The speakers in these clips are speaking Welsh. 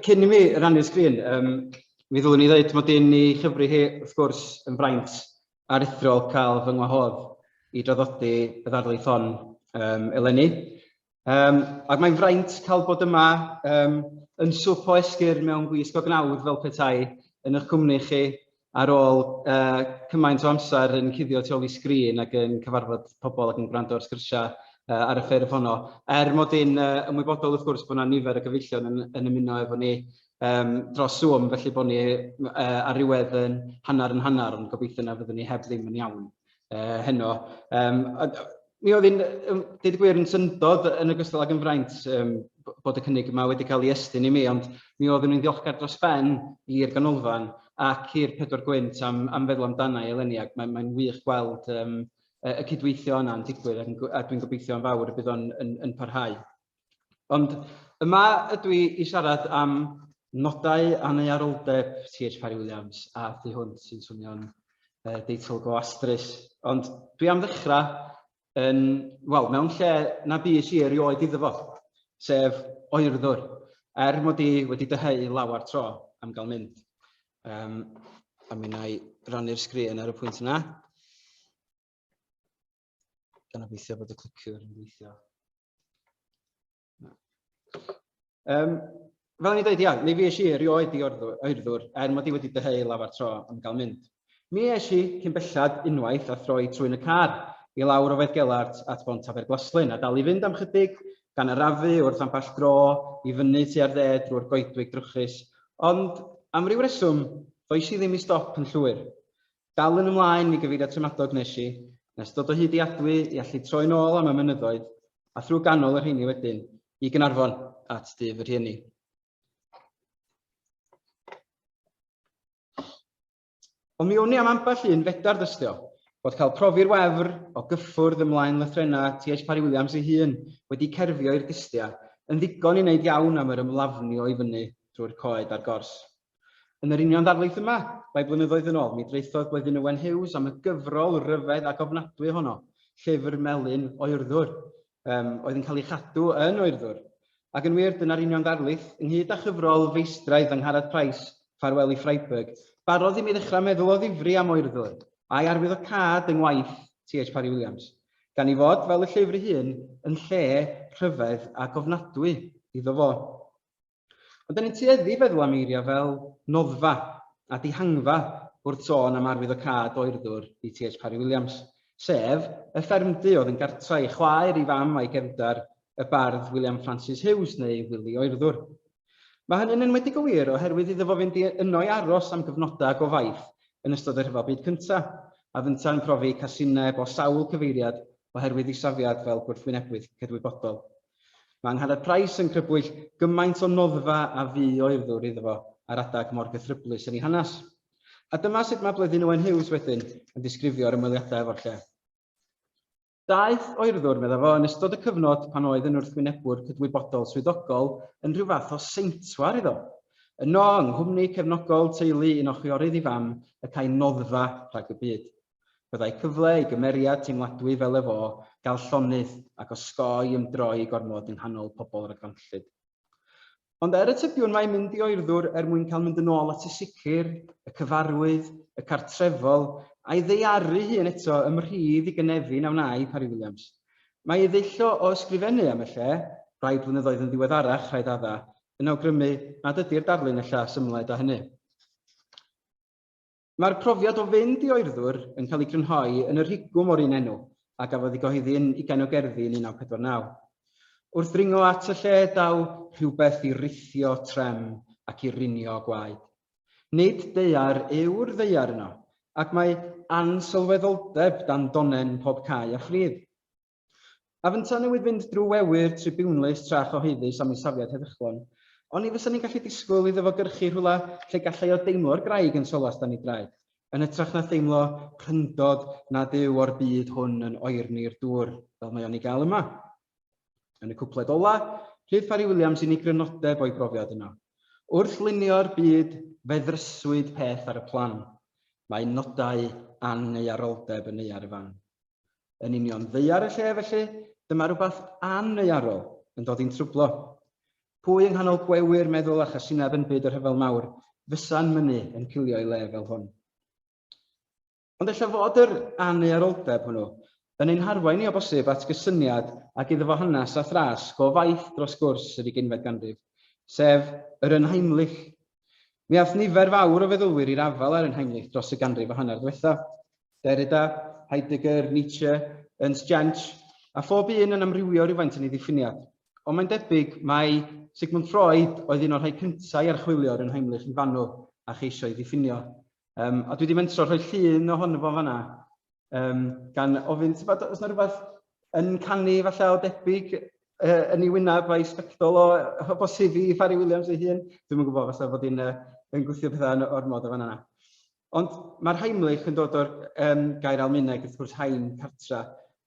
Cyn i mi rannu'r sgrin, um, mi ddylwn i ddweud mod i'n ei chyfri hi, wrth gwrs, yn fraint aruthrol cael fy ngwahodd i draddodi y ddarlith hon um, eleni. Um, ac mae'n fraint cael bod yma um, yn swp o esgyr mewn gwisg o gnawd fel petai yn eich cwmni chi Ar ôl cymaint o amser yn cuddio tu ôl i sgrin ac yn cyfarfod pobl ac yn gwrando ar sgyrsiau ar y ffurf honno, er mod i'n ymwybodol wrth gwrs bod yna nifer o gyfeillion yn ymuno efo ni dros Zoom felly bod ni ar ryw wedd yn hanner yn hanner ond gobeithio na fyddwn ni heb ddim yn iawn. uh, heno. Um, a, mi oedd yn, um, dweud gwir, yn syndod yn ogystal ag yn fraint um, bod y cynnig yma wedi cael ei estyn i mi, ond mi oedd yn ddiolchgar dros ben i'r ganolfan ac i'r pedwar gwynt am, am feddwl amdana i eleni, ac mae'n mae wych gweld um, y cydweithio yna'n digwydd, ac dwi'n gobeithio yn fawr y bydd o'n yn, yn parhau. Ond yma ydw i i siarad am nodau aneuaroldeb Tir Parry Williams a thu hwnt sy'n swnio'n uh, deitl go astrus. Ond dwi am ddechrau yn, wel, mewn lle na bus i erioed iddo fo, sef oerddwr, er mod i wedi dyheu lawer tro am gael mynd. Um, a mi na i rannu'r sgrin ar y pwynt yna. Gan obeithio bod y cliciwr yn gweithio. Um, fel ni dweud, ia, ni fi eisiau erioed i oerddwr er mod i wedi dyheu lafar tro am gael mynd. Mi eisiau cyn bellad unwaith a throi trwy'n y car i lawr o Gellart at Bont Aberglaslyn a dal i fynd am chydig gan arafu wrth ambell dro i fyny tua'r dde drwy'r goedwig drwchus, ond am ryw reswm, ddoes i ddim i stop yn llwyr. Dal yn ymlaen mi gyfeirio Tremadog nes i, nes dod o hyd i Adwy i allu troi nôl am y mynyddoedd, a thrwy ganol y rheini wedyn, i Gaernarfon, at dŷ fy rhieni. Ond mi wn i am ambell un fedar dystio, bod cael profi'r wefr o gyffwrdd ymlaen lythrenna TH Parry Williams ei hun wedi cerfio i'r dystia yn ddigon i wneud iawn am yr ymlafnio i fyny drwy'r coed a'r gors. Yn yr union ddarlith yma, rai blynyddoedd yn ôl, mi draethodd Bleddyn Owen Hughes am y gyfrol ryfedd ac ofnadwy ohono, Llyfr Melyn Oerddwr, um, oedd yn cael ei chadw yn Oerddwr. Ac yn wir, dyna'r union ddarlith, ynghyd â chyfrol feistraidd Angharad Price, Ffarwel i Freiburg, barodd i mi ddechrau meddwl o ddifri am Oerddwr, a'i arwyddocâd yng ngwaith TH Parry Williams, gan ei fod, fel y llyfr ei hun, yn lle rhyfedd ac ofnadwy iddo fo. Ond da ni'n tueddu feddwl am eiriau fel noddfa a dihangfa wrth sôn am arwyddocâd oerddwr i TH Parry Williams, sef y ffermdy oedd yn gartra i chwaer, i fam a'i gefndar, y bardd William Francis Hughes neu Wili Oerddwr. Mae hynny'n enwedig o wir oherwydd iddo fo fynd i yno i aros am gyfnodau go faith yn ystod y Rhyfel Byd Cyntaf, a fynta yn profi casineb o sawl cyfeiriad oherwydd ei safiad fel gwrthwynebwydd cydwybodol. Mae Angharad Price yn crybwyll gymaint o noddfa a fu o urddwr iddo fo ar adeg mor gythryblus yn ei hanes. A dyma sut mae Bleddyn Owen Hughes wedyn yn disgrifio'r ymweliadau efo'r lle. Daeth o urddwr, medda fo, yn ystod y cyfnod pan oedd yn wrthwynebwr cydwybodol swyddogol yn rhyw fath o seintwar iddo. Yno, yng nghwmni cefnogol teulu un o chwiorydd ei fam, y câi noddfa rhag y byd. Byddai cyfle i gymeriad teimladwy fel ef o gael llonydd ac osgoi ymdroi gormod yng nghanol pobl ragfarnllyd. Ond er y tybiwn mai mynd i oerddwr er mwyn cael mynd yn ôl at y sicr, y cyfarwydd, y cartrefol, a'i ddaearu hun eto ym rhydd i gynefin a wnâi Parry Williams. Mae ei ddull o ysgrifennu am y lle, rai blynyddoedd yn ddiweddarach rhaid adda, yn awgrymu nad ydi'r darlun ella symled â hynny. Mae'r profiad o fynd i oerddwr yn cael ei grynhoi yn y rhigwm o'r un enw a gafodd ei gyhoeddi yn Ugain o Gerddi yn 1949. Wrth ddringo at y lle daw rhywbeth i rithio trem ac i rinio gwaed. Nid daear yw'r ddaear yno, ac mae ansylweddoldeb dan donen pob cae a phrif. A fynta newid fynd drwy wewyr tribiwnlys tra chyhoeddus am ei safiad heddychlon. Ond ni fysa ni'n gallu disgwyl iddo fo gyrchu rhywle lle gallai o deimlo'r graig yn solas dan ei draed, yn hytrach na theimlo pryndod nad yw o'r byd hwn yn oerni'r dŵr fel mae o'n ei gael yma. Yn y cwpled ola, rhydd Parry Williams i ni grynodeb o'i brofiad yno. Wrth lunio'r byd, fe ddryswyd peth ar y plan. Mae nodau angaearoldeb yn ei ar y fan. yn union ddaear y lle felly dyma rhywbeth anneuarol yn dod i'n trwblo. Pwy yng nghanol gwewyr meddwl a chasineb yn byd y rhyfel mawr fysa'n mynnu yn cilio i le fel hwn? Ond efallai fod yr anneuaroldeb hwnnw yn ein harwain ni o bosib at gysyniad ag iddo fo hanes a thras go faith dros gwrs yr uginfed ganrif, sef yr Unheimlich Mi aeth nifer fawr o feddylwyr i'r afael â'r Unheimliaeth dros y ganrif a hanner ddiwethaf, Derrida, Heidegger, Nietzsche, Ernst Jentsch, a phob un yn amrywio rywfaint yn ei ddiffiniad. Ond mae'n debyg mai Sigmund Freud oedd un o'r rhai cyntaf i archwilio'r Unheimliaeth yn fanwl a cheisio ei ddiffinio. Um, a dwi wedi mentro rhoi llun ohono fo fanna. Um, gan ofyn, ti'n bod, oes yna rhywbeth yn canu falle o debyg uh, yn ei wyneb a'i sbectol o, o bosib i Fari Williams ei hun. Dwi'n yn gwybod falle bod hi'n uh, yn gwythio pethau yn o'r modd o fan yna. Ond mae'r Heimlich yn dod o'r um, gair Almaeneg, wrth gwrs, haim, cartra,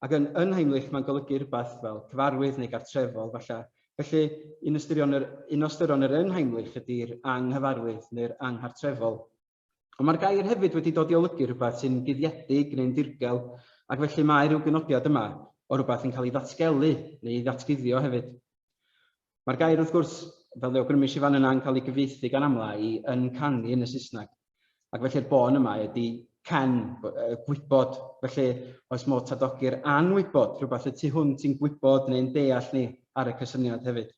ac yn, yn Heimlich mae'n golygu rhywbeth fel cyfarwydd neu gartrefol, falle. Felly, un, ystyrion yr, un o ystyrion yr yn Heimlich ydy'r anghyfarwydd neu'r anghartrefol. Ond mae'r gair hefyd wedi dod i olygu rhywbeth sy'n guddiedig neu'n ddirgel, ac felly mae rhyw gynodiad yma o rhywbeth yn cael ei ddatgelu neu ei ddatguddio hefyd. Mae'r gair wrth gwrs, fel fe awgrymis i fan yna, yn cael ei gyfieithu gan amla i yn canu yn y Saesneg, ac felly'r bôn yma ydy can, gwybod, felly oes modd tadogi'r anwybod, rhywbeth y tu hwnt i'n gwybod neu'n deall ni ar y cysyniad hefyd.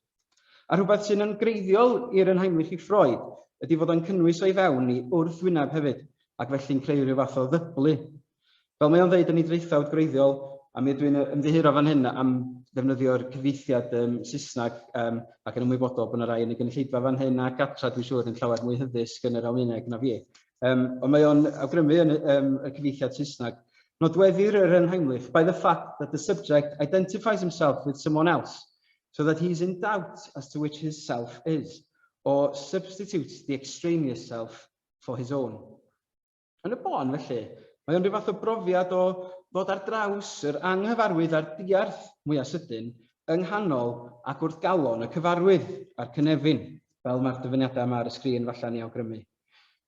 A rhywbeth sy'n yn greiddiol i'r yn Heinrich i Freud ydy fod o'n cynnwys o'i fewn i wrthwyneb hefyd, ac felly'n creu rhyw fath o ddyblu. Fel mae o'n ddeud yn ei draethawd gwreiddiol, a mi ydw i'n ymddiheuro fan hyn am ddefnyddio'r cyfieithiad um, Saesneg um, ac yn ymwybodol bod yna rai yn y gynulleidfa fan hyn ac adra dwi'n siŵr yn llawer mwy hyddysg yn yr Almaeneg na fi. Um, ond mae o'n awgrymu yn um, y cyfieithiad Saesneg Nodweddir yr Unheimlich by the fact that the subject identifies himself with someone else, so that he is in doubt as to which his self is, or substitutes the extraneous self for his own. Yn y bôn, felly, mae o'n rhyw fath o brofiad o ddod ar draws yr anghyfarwydd a'r diarth mwyaf sydyn yng nghanol ac wrth galon y cyfarwydd a'r cynefin, fel mae'r dyfyniadau yma ar y sgrin falle'n ei awgrymu.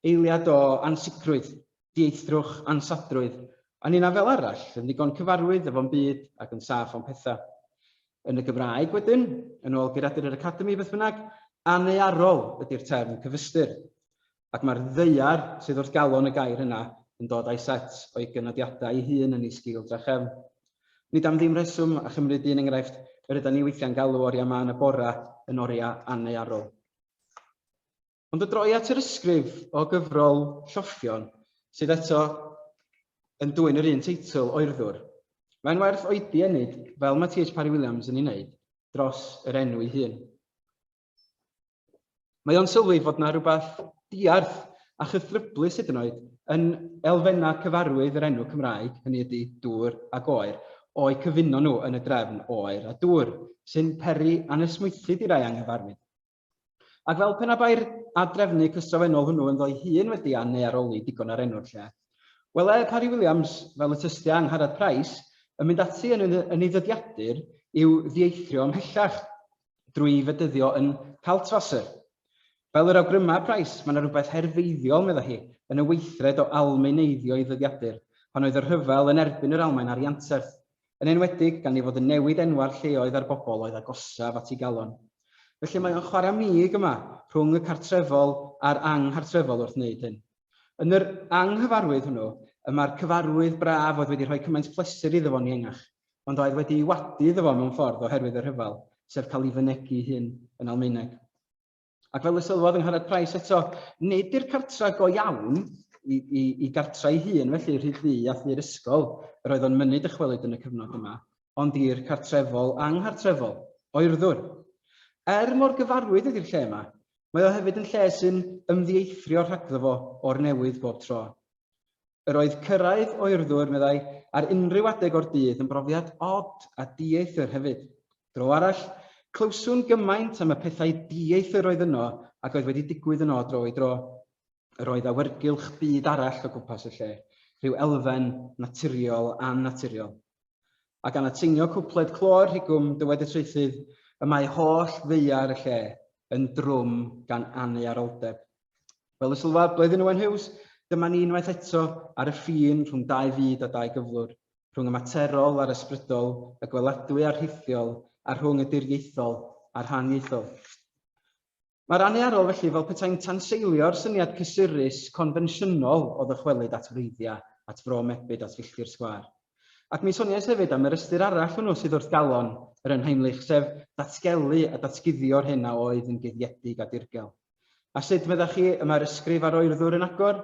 Eiliad o ansicrwydd, dieithrwch, ansadrwydd, a ninnau fel arall, yn ddigon cyfarwydd efo'n byd ac yn saff o'n petha. Yn y Gymraeg, wedyn, yn ôl geiriadur yr Academi, beth bynnag, annearol ydi'r term cyfystyr, ac mae'r ddaear sydd wrth galon y gair yna yn dod â'i set o'i gynodiadau ei hun yn ei sgil drachefn. Nid am ddim rheswm, a chymryd un enghraifft, yr ydan ni weithiau'n galw oriau mân a bora yn oriau annearol. Ond o droi at yr ysgrif o gyfrol Lloffion, sydd eto yn dwyn yr un teitl, Oerddwr, mae'n werth oedi ennyd, fel mae TH Parry Williams yn ei wneud, dros yr enw ei hun. Mae o'n sylwi fod yna rhywbeth diarth a chythryblus hyd yn oed yn elfennau cyfarwydd yr enw Cymraeg, hynny ydy dŵr a goer, o'i cyfuno nhw yn y drefn oer a dŵr, sy'n peri anesmwythyd i rai anghyfarwydd. Ac fel pe na bai'r adrefnu cystrofennol hwnnw ynddo'i hun wedi a neu aroli digon ar enw'r lle. Wele Parry Williams, fel y tystia Angharad Price, yn mynd ati yn yn ei ddyddiadur i'w ddieithrio ymhellach drwy'i fedyddio yn Kaltwasser. Fel yr awgryma Price, mae yna rhywbeth herfeiddiol, medda hi, yn y weithred o Almaeneiddio ei ddyddiadur, pan oedd y rhyfel yn erbyn yr Almaen ar ianterth, yn enwedig gan ei fod yn newid enwau'r lleoedd a'r bobl oedd agosaf at ei galon. Felly mae o'n chwarae mig yma rhwng y cartrefol a'r anghartrefol wrth wneud hyn. Yn yr anghyfarwydd hwnnw, y mae'r cyfarwydd braf oedd wedi rhoi cymaint pleser iddo fo'n iengach, ond oedd wedi'i wadu iddo fo mewn ffordd oherwydd y rhyfel, sef cael ei fynegi'i hun yn Almaeneg. Ac fel y sylwodd yng Ngharreg Price eto, nid i'r cartra go iawn i, i, i gartra ei hun, felly rhyd ddu a thur ysgol, yr oedd o'n mynnu dychwelyd yn y cyfnod yma, ond i'r cartrefol anghartrefol, oerddwr. Er mor gyfarwydd ydy'r lle yma, mae o hefyd yn lle sy'n ymddieithrio rhagddo fo o'r newydd bob tro. Yr oedd cyrraedd oerddwr, meddai, ar unrhyw adeg o'r dydd yn brofiad od a dieithr hefyd. Dro arall, clywswn gymaint am y pethau dieithr oedd yno ac oedd wedi digwydd yno o dro i dro. Yr oedd awyrgylch byd arall o gwmpas y lle, rhyw elfen naturiol annaturiol. a gan atseinio cwpled clo'r rhigwm dywed y traethydd y mae holl ddaear y lle yn drwm gan aneuaroldeb. Fel y sylwaf Bleddyn Owen Hughes, dyma ni unwaith eto ar y ffin rhwng dau fyd a dau gyflwr, rhwng y materol a'r ysbrydol, y gweladwy a'r rhithiol, a rhwng y diriaethol a'r haniaethol. Mae'r anniarol felly fel petai'n tanseilio'r syniad cysurus, confensiynol o ddychwelyd at wreiddiau, at fro mebyd, at filltir sgwâr. Ac mi soniais hefyd am yr ystyr arall hwnnw sydd wrth galon yr Unheimlich, sef datgelu a datguddio'r hyn a oedd yn guddiedig a dirgel. A sut, meddach chi, y mae'r ysgrif a'r oerddwr yn agor?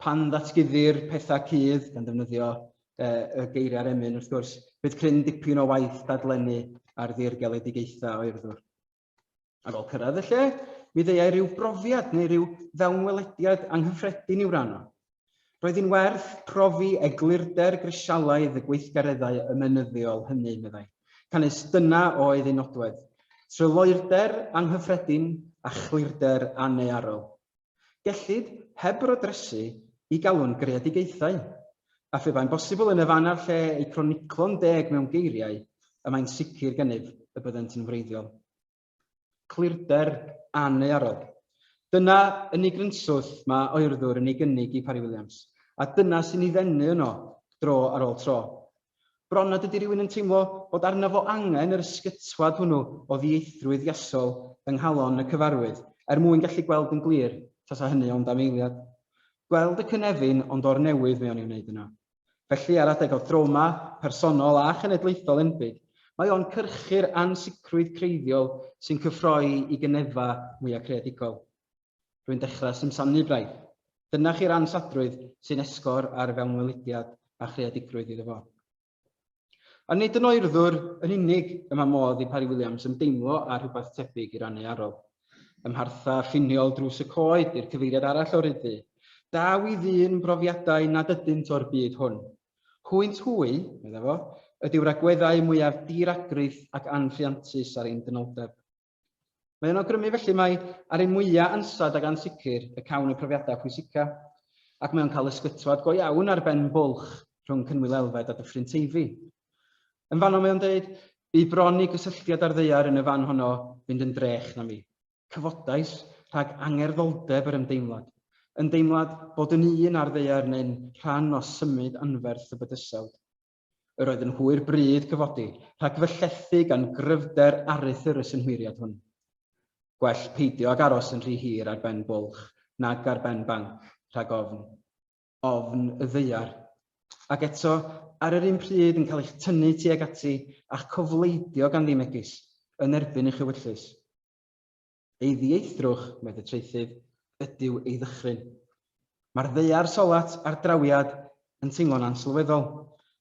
Pan ddatguddir pethau cudd, gan ddefnyddio uh, y geiriau'r emyn, wrth gwrs, bydd cryn dipyn o waith dadlennu ar ddirgeledigaethau oerddwr. Ar ôl cyrraedd y lle, mi ddeuai rhyw brofiad neu rhyw fewnwelediad anghyffredin i'w ranno. Roedd hi'n werth profi eglurder grisialaidd y gweithgareddau ymenyddiol hynny, meddai, canys dyna oedd ei nodwedd, tryloywder anghyffredin a chlirder annearol. Gellid, heb bwrdresu, i galw'n greadigaethau, a phe bai'n bosibl yn y fan a'r lle eu croniclo'n deg mewn geiriau, y mae'n sicr gennyf y byddent yn wreiddiol. Clirder anneuarog. Dyna yn ei grynswth mae oerddwr yn ei gynnig i Parry Williams, a dyna sy'n ei ddenu yno dro ar ôl tro. Bron nad ydy rhywun yn teimlo bod arnaf fo angen yr ysgytwad hwnnw o ddieithrwydd iasol yng nghalon y cyfarwydd er mwyn gallu gweld yn glir tasa hynny ond am eiliad. Gweld y cynefin ond o'r newydd mae o'n ei wneud yna. Felly, ar adeg o drawma personol a chenedlaethol enbyd, mae o'n cyrchu'r ansicrwydd creiddiol sy'n cyffroi i gynefau mwya' creadigol. Rwy'n dechrau simsanu braidd. Dyna chi'r ansadrwydd sy'n esgor ar fewnwelediad a chreadigrwydd iddo fo. Ond nid yn oerddwr yn unig y mae modd i Parry Williams ymdeimlo â rhywbeth tebyg i rannu arogl. Ym mharthau ffiniol drws y coed i'r cyfeiriad arall o ryddu, daw i ddyn brofiadau nad ydynt o'r byd hwn. Hwynt hwy, medda fo, ydyw'r agweddau mwyaf di-ragrith ac anrhiantus ar ein dynoldeb. Mae yn awgrymu felly mai ar ei mwyaf ansawdd ac ansicr y cawn y profiadau pwysica, ac mae o'n cael ysgytwad go iawn ar ben bwlch rhwng Cynwyl Elfed a Dyffryn Teifi. Yn fanno mae o'n dweud, bu bron i gysylltiad â'r ddeiar yn y fan honno fynd yn drech na mi. Cyfodais rhag angerddholdeb yr ymdeimlad, ymdeimlad bod yn un â'r ddeiar neu'n rhan o symud anferth y bydysawd. Yr oedd yn hwyr bryd cyfodi rhag fy llethu gan gryfder aruthr y synhwyriad hwn. Gwell peidio ag aros yn rhy hir ar ben bwlch nag ar ben banc, rhag ofn. Ofn y ddaear. Ac eto, ar yr un pryd, yn cael eich tynnu tuag ati a'ch cofleidio ganddi megis, yn erbyn eich ewyllys. Ei ddieithrwch, medd y traethydd, ydyw ei ddychryn. Mae'r ddaear solat a'r drawiad yn teimlo'n ansylweddol.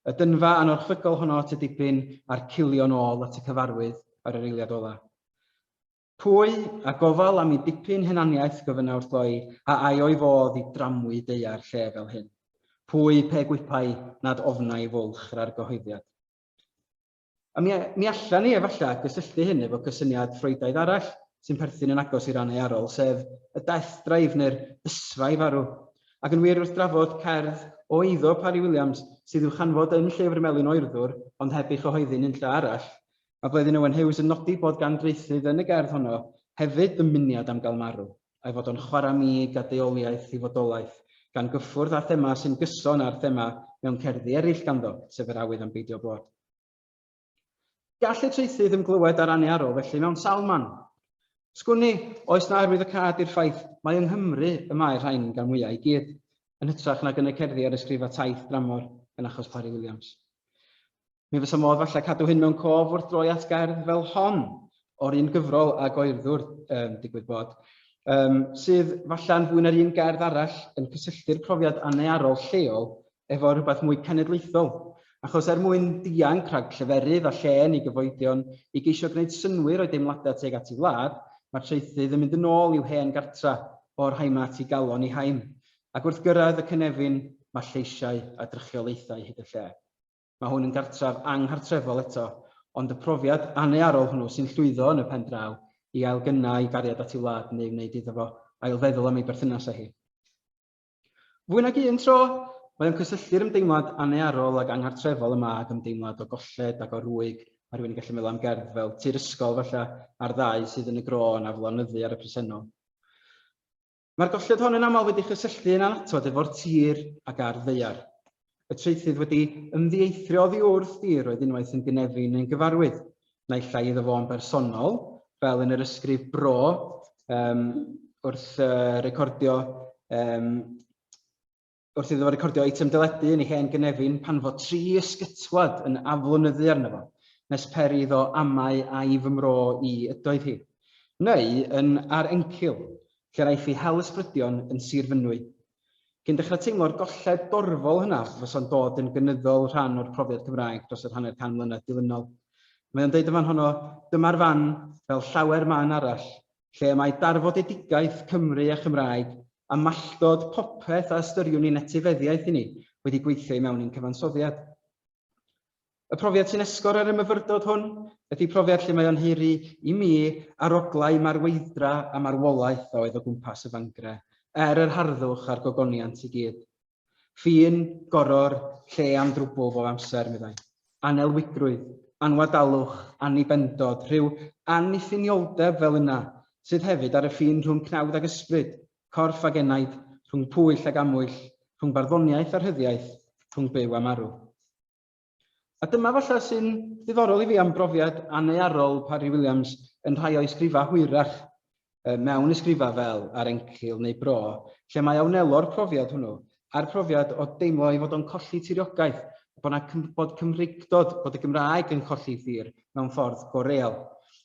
Y dynfa anorchfygol honno at y dibyn a'r cilio'n ôl at y cyfarwydd ar yr eiliad ola. Pwy a gofal am i dipyn henaniaeth gofynna wrtho'i a ai o'i fodd i dramwy daear lle fel hyn? Pwy pe gwipai nad ofnai fwlch yr argyhoeddiad? A mi, mi allan ni efallai gysylltu hyn efo cysyniad Ffreuidaidd arall sy'n perthyn yn agos i ran earol, sef y death drive neu'r ysfraif arw. Ac yn wir, wrth drafod cerdd o eiddo Parry Williams, sydd i'w chanfod yn Llyfr Melin Oerddwr, ond heb ei chyhoeddi nunlle arall, mae Bleddyn Owen Hughes yn nodi bod gan draethydd yn y gerdd honno hefyd ddymuniad am gael marw. a'i fod o'n chwarae mig a deuoliaeth i fodolaeth, gan gyffwrdd â thema sy'n gyson â'r thema mewn cerddi eraill ganddo, sef yr awydd am beidio bod. Gall y traethydd ymglywed â'r aniarol felly mewn sawl man. Sgwni, oes na arwydd y cad i'r ffaith mae yng Nghymru y mae'r rhain gan mwyau i gyd, yn hytrach nag yn y cerddi ar ysgrifa taith dramor yn achos Parry Williams. Mi fysa modd falle cadw hyn mewn cof wrth droi at gerdd fel hon, o'r un gyfrol a Goerddwr, um, digwydd bod, um, sydd falle yn fwy na'r un gerdd arall yn cysylltu'r profiad anearol lleol efo rhywbeth mwy cenedlaethol. Achos er mwyn dianc rhag lleferydd a llên i gyfoedion i geisio gwneud synwyr o'i deimladau teg at ei wlad, mae traethydd yn mynd yn ôl i'w hen gartra o'r haima at ei galon i haim, ac wrth gyrraedd y cynefin mae lleisiau a drychiolaethau hyd y lle. Mae hwn yn gartref anghartrefol eto, ond y profiad annearol hwnnw sy'n llwyddo yn y pen draw i ailgynnau ei gariad at ei wlad neu wneud iddo fo ailfeddwl am ei berthynas â hi. Fwy nag un tro, mae o'n cysylltu'r ymdeimlad annearol ac anghartrefol yma ag ymdeimlad o golled ac o rwyg, mae rhywun yn gallu meddwl am gerdd fel Tŷ'r Ysgol, falle, a'r ddau sydd yn y gro yn aflonyddu ar y presennol. Mae'r golled hon yn aml wedi chysylltu yn annatod efo'r tir ac ardd ddaear. Y traethydd wedi ymddieithrio oddi wrth dir oedd unwaith yn gynefin neu'n gyfarwydd, naill ai iddo fo'n bersonol, fel yn yr ysgrif bro um, wrth uh, recordio um, wrth iddo fo recordio eitem deledu yn ei hen gynefin pan fo tri ysgytwad yn aflonyddu arno fo, nes per iddo amau ai fy mro i ydoedd hi, neu yn Ar Encil, lle'r aiff ei hel ysbrydion yn Sir Fynwy. Cyn dechrau teimlo'r golled dorfol hynaf os fysa'n dod yn gynyddol rhan o'r profiad Cymraeg dros yr hanner can mlynedd dilynol. Mae o'n deud yn fan honno, dyma'r fan, fel llawer man arall, lle y mae darfodedigaeth Cymru a Chymraeg, a malltod popeth a ystyriwn ni'n etifeddiaeth i ni, wedi gweithio i mewn i'n cyfansoddiad. Y profiad sy'n esgor ar y myfyrdod hwn ydy profiad lle mae o'n hiri i mi aroglau marweithdra a marwolaeth a oedd o gwmpas y fangre, er yr harddwch a'r gogoniant i gyd. Ffin, goror, lle am drwbwl bob amser, meddai. Anelwydrwydd, anwadalwch, annibendod, rhyw anniffynioldeb fel yna, sydd hefyd ar y ffin rhwng cnawd ag ysbryd, corff ag enaid, rhwng pwyll ag amwyll, rhwng barddoniaeth a rhyddiaith, rhwng byw a marw. A dyma falle sy'n ddiddorol i fi am brofiad annearol Parry Williams yn rhai o'i sgrifau hwyrach mewn ysgrifau fel Ar Encil neu Bro, lle mae a wnelo'r profiad hwnnw a'r profiad o deimlo ei fod o'n colli tiriogaeth, bod yna bod Cymreictod, bod y Gymraeg yn colli thir mewn ffordd go real.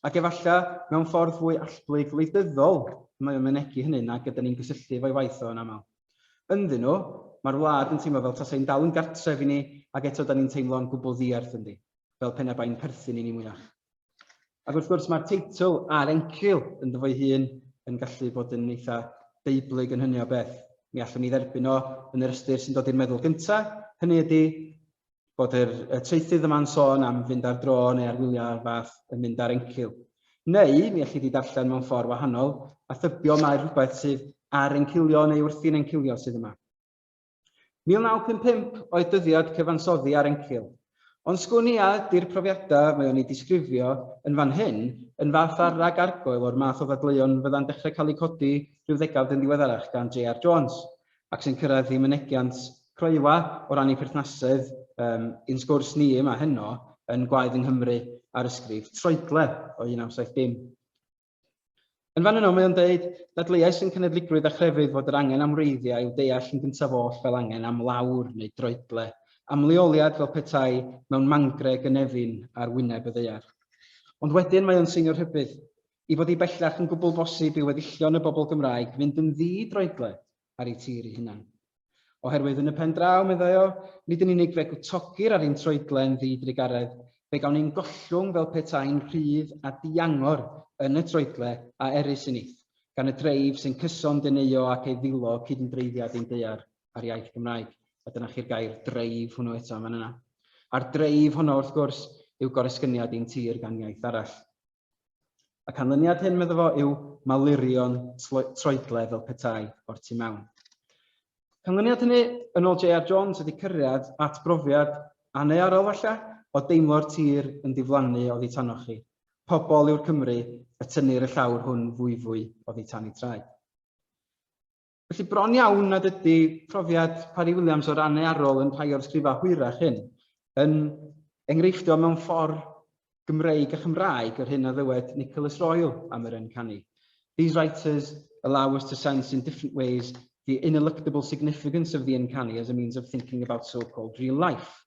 Ac efallai mewn ffordd fwy allblyg wleidyddol mae o'n mynegi hynny nag ydyn ni'n gysylltu efo'i waith o yn aml. Ynddyn nhw, mae'r wlad yn teimlo fel tasai'n dal yn gartref i ni ac eto 'da ni'n teimlo yn gwbl ddierth ynddi, fel pe na bai'n perthyn i ni mwyach. Ac wrth gwrs, mae'r teitl a'r encil ynddo fo'i hun yn gallu bod yn eitha' Beiblig yn hynny o beth. Mi allwn ni dderbyn o yn yr ystyr sy'n dod i'r meddwl gynta', hynny ydi, bod yr, y traethydd yma'n sôn am fynd ar dro neu ar wyliau o'r fath yn mynd ar encil. Neu, mi allai di darllen mewn ffordd wahanol, a thybio mae rhywbeth sydd ar encilio neu wrthi'n encilio sydd yma. 1955 oedd dyddiad cyfansoddi ar encil. Ond sgwn i a ydy'r profiadau mae o'n ei disgrifio yn fan hyn yn fath ar rag argoel o'r math o ddadleuon fydda'n dechrau cael eu codi rhyw ddegawd yn ddiweddarach gan JR Jones. ac sy'n cyrraedd y mynegiant Croewa o ran ein perthnasedd, yym, i'n sgwrs ni yma heno yn Gwaed yng Nghymru ar ysgrif Troedle o 1970. Yn fan yno mae o'n dweud, Dadleuais yn cenedligrwydd a chrefydd fod yr angen am wreiddiau i'w deall yn gyntaf oll fel angen am lawr neu droedle, am leoliad fel petai mewn mangre gynefin ar wyneb y ddaear. Ond wedyn mae o'n seinio rhybudd. I fod hi bellach yn gwbl bosib i weddillion y bobl Gymraeg fynd yn ddi-droedled ar eu tir eu hunain. Oherwydd yn y pen draw, meddai o, nid yn unig fe gwtogir ar ein troedlen ddi-drugaredd, fe gawn ein gollwng fel petai'n rhydd a diangor yn y troedle a erys yn ith, gan y dreif sy'n cyson deneuo ac ei ddilo cydymdreiddiad ein daear a'r iaith Gymraeg. A dyna chi'r gair dreif hwnnw eto yn fan yna. A'r dreif honno, wrth gwrs, yw goresgyniad ein tir gan iaith arall. Y canlyniad hyn, medda fo, yw malurion troedle fel petai o'r tu mewn. Canlyniad hynny, yn ôl J.R. Jones, ydy cyrraedd at brofiad annearol falle o deimlo'r tir yn diflannu oddi tanoch chi. Pobl yw'r Cymry y tynnir y llawr hwn fwyfwy oddi tan ei traed. Felly bron iawn nad ydy profiad Parry Williams o ran ei arol yn rhai o'r sgrifau hwyrach hyn yn enghreiffdio mewn ffordd Gymreig a Chymraeg yr hyn a ddywed Nicholas Royal am yr yn canu. These writers allow us to sense in different ways the ineluctable significance of the uncanny as a means of thinking about so-called real life.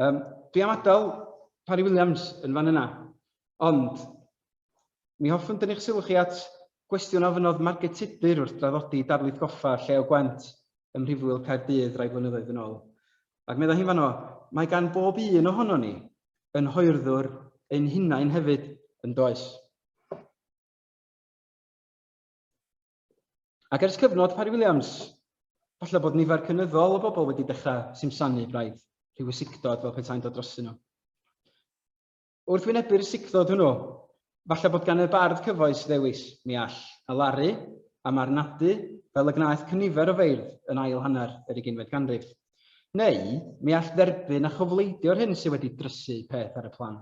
Um, dwi am adael Parry Williams yn fan yna, ond mi hoffwn dynnu'ch sylw chi at gwestiwn ofynodd Margaret Tudur wrth draddodi darlith goffa llew gwent ym Mhrifwyl Caerdydd rai blynyddoedd yn ôl. Ac meddai hi'n fanno, mae gan bob un ohono ni yn hoerddwr ein hunain hefyd yn does. Ac ers cyfnod Parry Williams, falle bod nifer cynyddol o bobl wedi dechrau simsanu braidd rhyw ysigdod fel petai'n dod drostyn nhw. Wrth wynebu'r ysigdod hwnnw, falle bod gan y bardd cyfoes ddewis, mi all, a laru, a marnadu, fel y gwnaeth cynifer o feirdd yn ail hanner yr uginfed ganrif. Neu, mi all dderbyn a chofleidio'r hyn sydd wedi drysu peth ar y plan.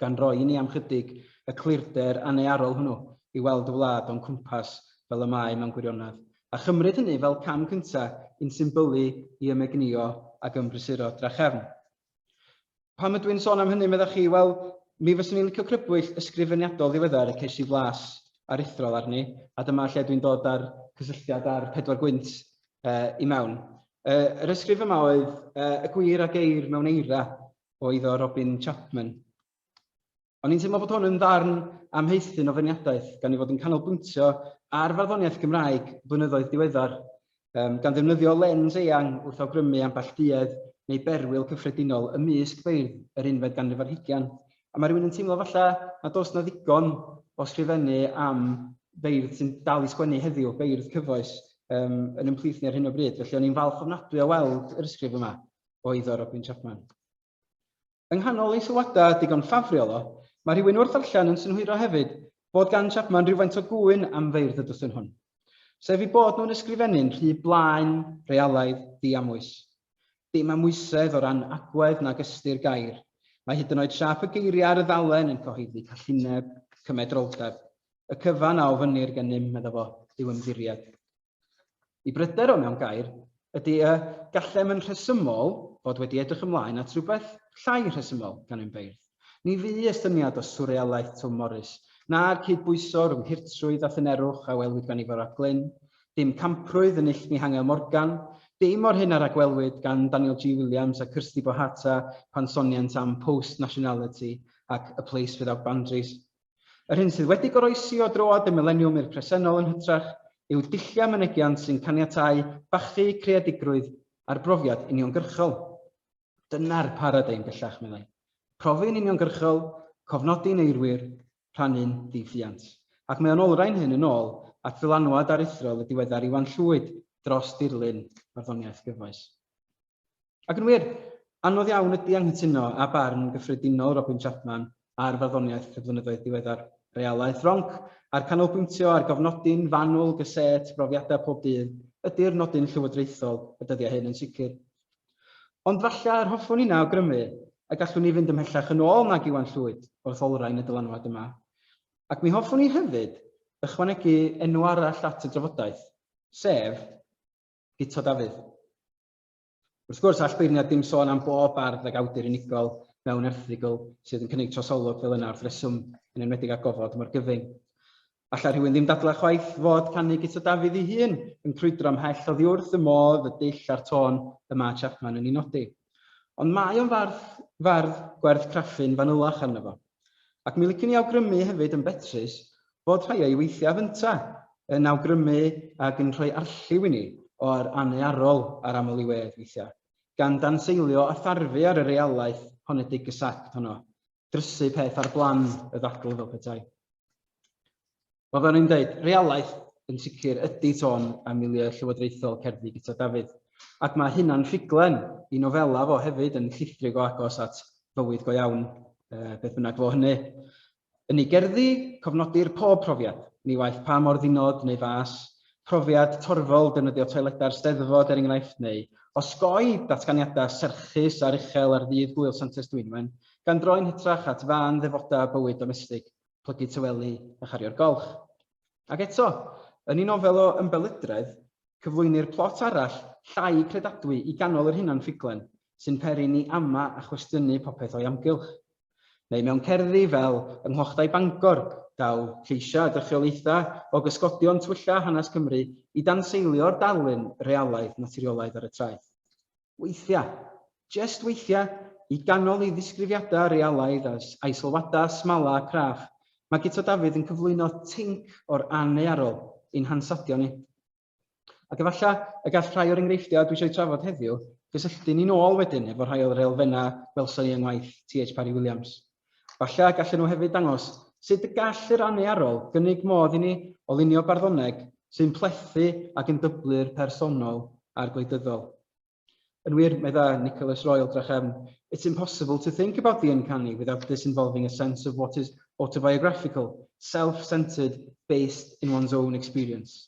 gan roi i ni am chydig y clirder annearol hwnnw i weld y wlad o'n cwmpas fel y mae mewn gwirionedd, a chymryd hynny fel cam cynta i'n symbylu i ymegnïo ac ymbrysuro drachefn. Pam ydw i'n sôn am hynny, meddach chi? Wel, mi fyswn i'n licio crybwyll ysgrifeniadol ddiweddar y ces i flas aruthrol arni, a dyma lle dwi'n dod â'r cysylltiad â'r pedwar gwynt uh, i mewn. Uh, yr ysgrif yma oedd uh, y gwir a geir mewn eira, oedd o Robin Chapman. O'n i'n teimlo bod hwn yn ddarn amheithyn o feirniadaeth, gan ei fod yn canolbwyntio ar farddoniaeth Gymraeg blynyddoedd diweddar, um, gan ddefnyddio lens eang wrth awgrymu ambell duedd neu berwyl cyffredinol ymysg beirdd yr unfed ganrif ar hugian. A mae rhywun yn teimlo falle nad oes na ddigon o sgrifennu am beirdd sy'n dal i sgwennu heddiw, beirdd cyfoes, um, yn ymplith ni ar hyn o bryd. Felly o'n i'n falch ofnadwy o weld yr ysgrif yma. o eiddo Robin Chapman. Yng nghanol ei sylwadau digon ffafriol o, mae rhywun wrth ddarllen yn synhwyro hefyd bod gan Chapman rhywfaint o gŵyn am feirdd y dwsin hwn, sef ei bod nhw'n ysgrifennu'n rhy blaen, realaidd, ddiamwys. Dim amwysedd o ran agwedd nag ystyr gair. Mae hyd yn oed siâp y geiriau ar y ddalen yn cyhoeddi callineb, cymedroldeb. Y cyfan a ofynnir gennym, medda fo, yw ymddiried. Y bryder o mewn gair ydy y gallem yn rhesymol fod wedi edrych ymlaen at rywbeth llai rhesymol gan ein beirdd. Ni fu estyniad o swrealaeth Twm Morys, na'r cydbwyso rhwng hurtrwydd a thynerwch a welwyd gan Ifor ap Glyn, dim camprwydd yn Nillt Mihangel Morgan, dim o'r hyn a ragwelwyd gan Daniel G. Williams a Kirsty Bohata pan sonient am post-nationality ac a place without boundaries. Yr hyn sydd wedi goroesi o droad y mileniwm i'r presennol yn hytrach yw dulliau mynegiant sy'n caniatáu bachu creadigrwydd ar brofiad uniongyrchol. Dyna'r paradeim bellach, meddai. Profi'n uniongyrchol, cofnodi'n eirwyr, rhannu'n ddiffuant. Ac mae o'n olrhain hyn yn ôl at ddylanwad aruthrol y diweddar Iwan Llwyd dros dirlun barddoniaeth gyfoes. Ac yn wir, anodd iawn ydi anghytuno â barn gyffredinol Robin Chapman ar farddoniaeth cydfynyddoedd diweddar. Realaeth ronc, a'r canolbwyntio ar gofnodi'n fanwl gysêt brofiadau pob dydd, ydi'r nodyn llywodraethol y dyddiau hyn yn sicr. Ond falle yr hoffwn inna awgrymu y gallwn ni fynd ymhellach yn ôl nag Iwan Llwyd wrth olrhain y dylanwad yma. Ac mi hoffwn i hefyd ychwanegu enw arall at y drafodaeth, sef, Guto Dafydd. Wrth gwrs, all beirniad dim sôn am bob bardd ag awdur unigol mewn erthygl sydd yn cynnig trosolwg fel yna wrth reswm, yn enwedig â gofod mor gyfyng. Alla rhywun ddim dadlau chwaith fod canu Guto Dafydd ei hun yn crwydro ymhell oddi wrth y modd y dull a'r tôn y mae Chapman yn ei nodi. Ond mae o'n fardd, fardd gwerth craffu'n fanylach arno fo. Ac mi licen i awgrymu hefyd yn betrus fod rhai o'i weithiaf ynta yn awgrymu ag yn rhoi arlliw i ni o'r anearol a'r aml-i-wedd weithiau, gan danseilio a tharfu ar y realaeth honedig gysacd honno, drysu peth ar blan y ddadl fel petai. Wel, fel o'n i'n dweud, realaeth yn sicr ydy tôn a milieu llywodraethol cerddi Guto Dafydd, ac mae hynna'n ffuglen i nofela fo hefyd yn llithrig o agos at fywyd go iawn, beth bynnag fo hynny. Yn ei gerddi, cofnodir pob profiad, ni waeth pa mor ddinod neu fas, profiad torfol defnyddio toiledau'r Steddfod er enghraifft neu osgoi datganiadau serchus aruchel ar ddydd Gŵyl Santes Dwynwen, gan droi'n hytrach at fân ddefodau bywyd domestig. plygu tawelu a chario'r golch. Ac eto, yn ei nofel o ymbelydredd, cyflwynir plot arall llai credadwy i ganol yr hunan ffuglen, sy'n peri ni ama a chwestiynu popeth o'i amgylch. Neu mewn cerddi fel Yng Nghlochtai Bangor, daw lleisiau a dychiolaethau o gysgodion twylla hanes Cymru i danseilio'r darlun realaidd naturiolaidd ar y traeth. Weithiau, jest weithiau, i ganol ei ddisgrifiadau realaidd a aisylwadau smala a craff, mae Guto Dafydd yn cyflwyno tinc o'r anneuarol i'n hansawdio ni. Ac efallai y gall rhai o'r enghreifftiau dwi eisiau eu trafod heddiw gysylltu ni'n ôl wedyn efo rhai o'r elfennau welson ni yng ngwaith TH Parry Williams. Falle y gallen nhw hefyd ddangos sut y gall yr AHNE arwrol gynnig modd i ni o lunio barddoneg sy'n plethu ac yn dyblu'r personol a'r gwleidyddol. Yn wir, medda Nicholas Royal, drachefn, It's impossible to think about the uncanny without disinvolving a sense of what is autobiographical, self-centred, based in one's own experience.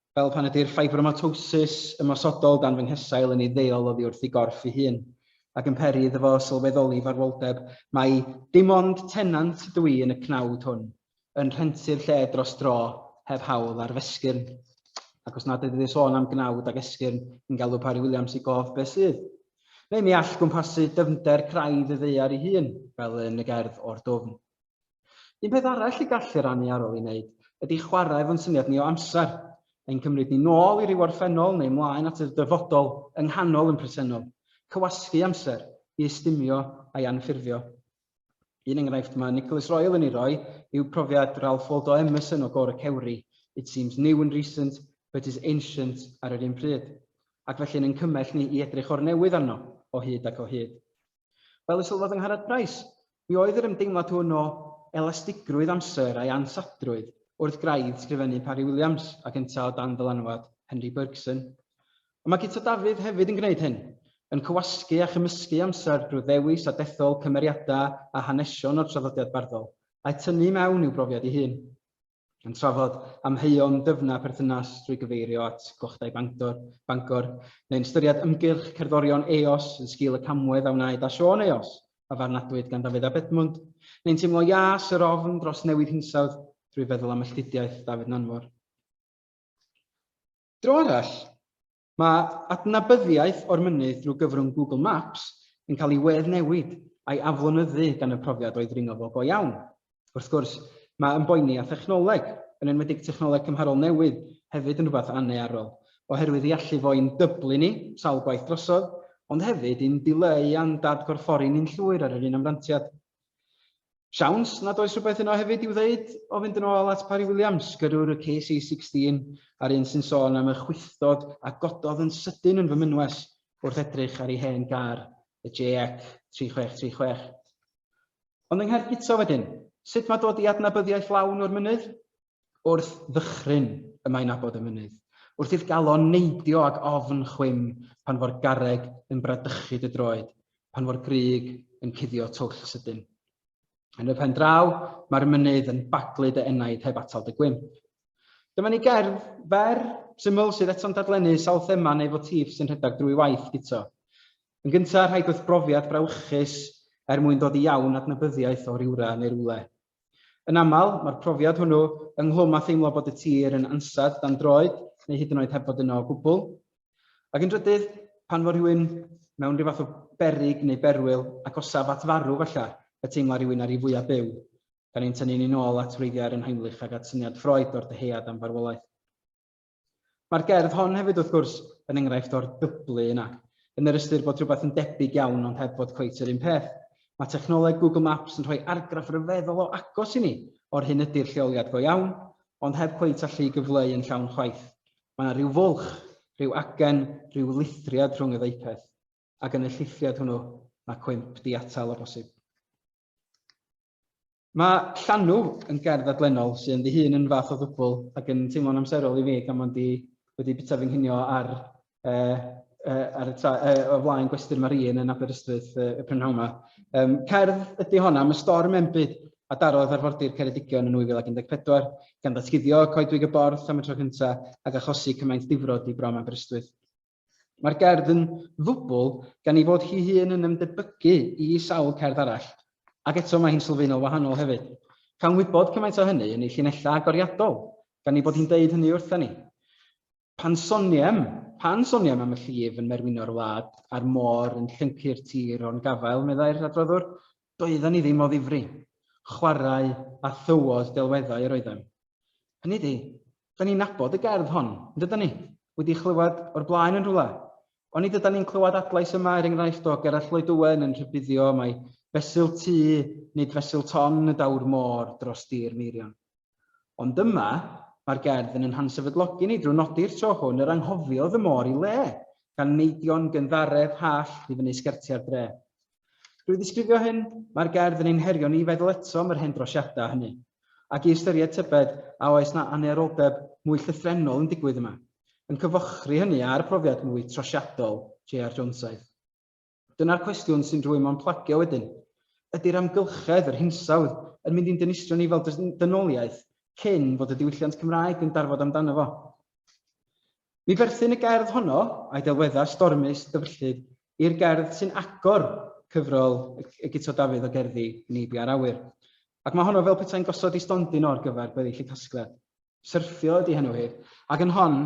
fel pan ydy'r ffibromatosis ymosodol dan fy nghesail yn ei ddeol oddi wrth ei gorff ei hun, ac yn peri iddo fo sylweddoli farwoldeb, mai dim ond tenant ydw i yn y cnawd hwn, yn rhentu'r lle dros dro, heb hawl ar f'esgyrn. Ac os nad ydy dy sôn am gnawd ac esgyrn yn galw Parry Williams i gof, beth sydd? Neu mi all gwmpasu dyfnder craidd y ddaear ei hun, fel yn y gerdd O'r Dwfn. Un peth arall y gallu rannu ar ôl ei wneud ydy chwarae efo'n syniad ni o amser. Ein cymryd ni nôl i ryw orffennol neu mlaen at yr dyfodol yng nghanol yn presennol. Cywasgu amser i ystumio a'i anffurfio. Un enghraifft mae Nicholas Royal yn ei roi yw profiad Ralph Waldo Emerson o Gôr y Cewri, It seems new and recent, but is ancient ar yr un pryd. Ac felly yn ein cymell ni i edrych o'r newydd arno, o hyd ac o hyd. Fel y sylwodd yng Ngharad Price, mi oedd yr ymdeimlad hwn o elastigrwydd amser a'i ansaddrwydd wrth graidd sgrifennu Parry Williams ac yntau o dan ddylanwad Henry Bergson. Ond mae Guto Dafydd hefyd yn gwneud hyn, yn cywasgu a chymysgu amser drwy ddewis a dethol cymeriadau a hanesion o'r traddodiad barddol, a'u tynnu i mewn i'w brofiad ei hun. yn trafod amheuon dyfna perthynas trwy gyfeirio at Gochdai Bangor, Bangor neu'n ystyried ymgyrch cerddorion Eos yn sgil y camwedd a wnaed â Siôn Eos, a farnadwyd gan Dafydd ab Edmwnd, neu'n teimlo ias yr ofn dros newid hinsawdd drwy feddwl am melltidiaeth Dafydd Nanfor. Dro arall, Mae adnabyddiaeth o'r mynydd drwy gyfrwng Google Maps yn cael ei weddnewid a'i aflonyddu gan y profiad o'i ddringo fo go iawn. Wrth gwrs, mae ymboeni â thechnoleg, yn enwedig technoleg cymharol newydd, hefyd yn rhywbeth annearol, oherwydd ei allu fo i'n dyblu ni sawl gwaith drosodd, ond hefyd i'n dileu a'n dad-gorffori ni'n llwyr ar yr un amrantiad. Siawns nad oes rhywbeth yno hefyd i'w ddeud o fynd yn ôl at Parry Williams, gyrrwr y KC16 a'r un sy'n sôn am y chwythdod a gododd yn sydyn yn fy mynwes wrth edrych ar ei hen gar, y JX 3636. Ond yng Nghaergyto wedyn, sut mae dod i adnabyddiaeth lawn o'r mynydd? Wrth ddychryn y mae'n abod y mynydd, wrth i'th galon neidio ag ofn chwim, pan fo'r garreg yn bradychu dy droed, pan fo'r grug yn cuddio twll sydyn. Yn y pen draw, mae'r mynydd yn baglu dy enaid heb atal dy gwymp. Dyma ni gerdd fer syml sydd eto'n dadlennu sawl thema neu fotif sy'n rhedeg drwy waith Guto. Yn gyntaf, rhaid wrth brofiad brawychus er mwyn dod i iawn adnabyddiaeth o rywra neu rywle. Yn aml, mae'r profiad hwnnw, ynghlwm â theimlo bod y tir yn ansawdd dan droed neu hyd yn oed heb fod yno o gwbl. Ac yn drydydd, pan fo rhywun mewn rhyw fath o berig neu berwyl, agosaf at farw falle, y teimla rhywun ar ei fwyaf byw, gan ein tynnu ni'n ôl at wreiddiau Aron Heimlich ac at syniad Freud o'r dyhead am farwolaeth. Mae'r gerdd hon hefyd wrth gwrs yn enghraifft o'r dyblu yna, yn yr ystyr bod rhywbeth yn debyg iawn ond heb fod cweit yr un peth. Mae technoleg Google Maps yn rhoi argraff ryfeddol o agos i ni o'r hyn ydy'r lleoliad go iawn, ond heb cweit allu'i gyfleu yn llawn chwaith. Mae yna rhyw fwlch, rhyw agen, rhyw lithriad rhwng y ddau peth, ac yn y llithriad hwnnw mae cwymp diatal o bosib. Mae Llanw yn ger ddadlennol sydd ynddi hun yn fath o ddwbl ac yn teimlo'n amserol i mi gan mod i wedi bita fy nghinio ar, uh, uh, ar y tra, uh, o flaen gwesty'r Marine yn Aberystwyth uh, y prynhawn yma. Um, cerdd ydy honna, mae storm enbyd a darodd arfordir Ceredigion yn 2014, gan ddatguddio coedwig y borth am y tro cyntaf ac achosi cymaint difrod i brom Aberystwyth. Mae'r gerdd yn ddwbl gan ei fod hi hun yn ymdebygu i sawl cerdd arall, ac eto mae hi'n sylfaenol wahanol hefyd. Cawn wybod cymaint o hynny yn ei llinellau agoriadol, gan ei bod hi'n deud hynny wrthon ni. Pan soniem, pan soniem am y llif yn merwino'r wlad a'r môr yn llyncu'r tir o'n gafael, meddai'r adroddwr, Doedden ni ddim o ddifri. Chwarae a thywod delweddau yr oeddem. Hynny 'di, 'dan ni'n nabod y gerdd hon, yn dydan ni? Wedi chlywed o'r blaen yn rhywle? Onid ydan ni'n clywed adlais yma, er enghraifft, o Gerallt Lloyd Owen yn rhybuddio mai fesul tŷ, nid fesul ton y daw'r môr dros dir Meirion? Ond yma, mae'r gerdd yn ein hansefydlogi ni drwy nodi'r tro hwn yr anghofiodd y môr i le, gan neidio'n gynddaredd hallt i fyny sgertiau'r dre. Drwy ddisgrifio hyn, mae'r gerdd yn ein herio ni i feddwl eto am yr hen drosiadau hynny, ac i ystyried tybed a oes 'na anneroldeb mwy llythrennol yn digwydd yma, yn cyfochri hynny â'r profiad mwy trosiadol JR Jonesaidd. Dyna'r cwestiwn sy'n rhwymo'n plagio wedyn, ydi'r amgylchedd, yr hinsawdd, yn mynd i'n dinistrio ni fel dynoliaeth cyn fod y diwylliant Cymraeg yn darfod amdano fo? Mi berthyn y gerdd honno, a'i delweddau stormus dyfrllyd, i'r gerdd sy'n agor cyfrol y Guto Dafydd o gerddi Neibia a'r Awyr. Ac mae honno fel petai'n gosod ei stondin o ar gyfer gweddill y casgliad. Syrthio ydi henw hi, ac yn hon,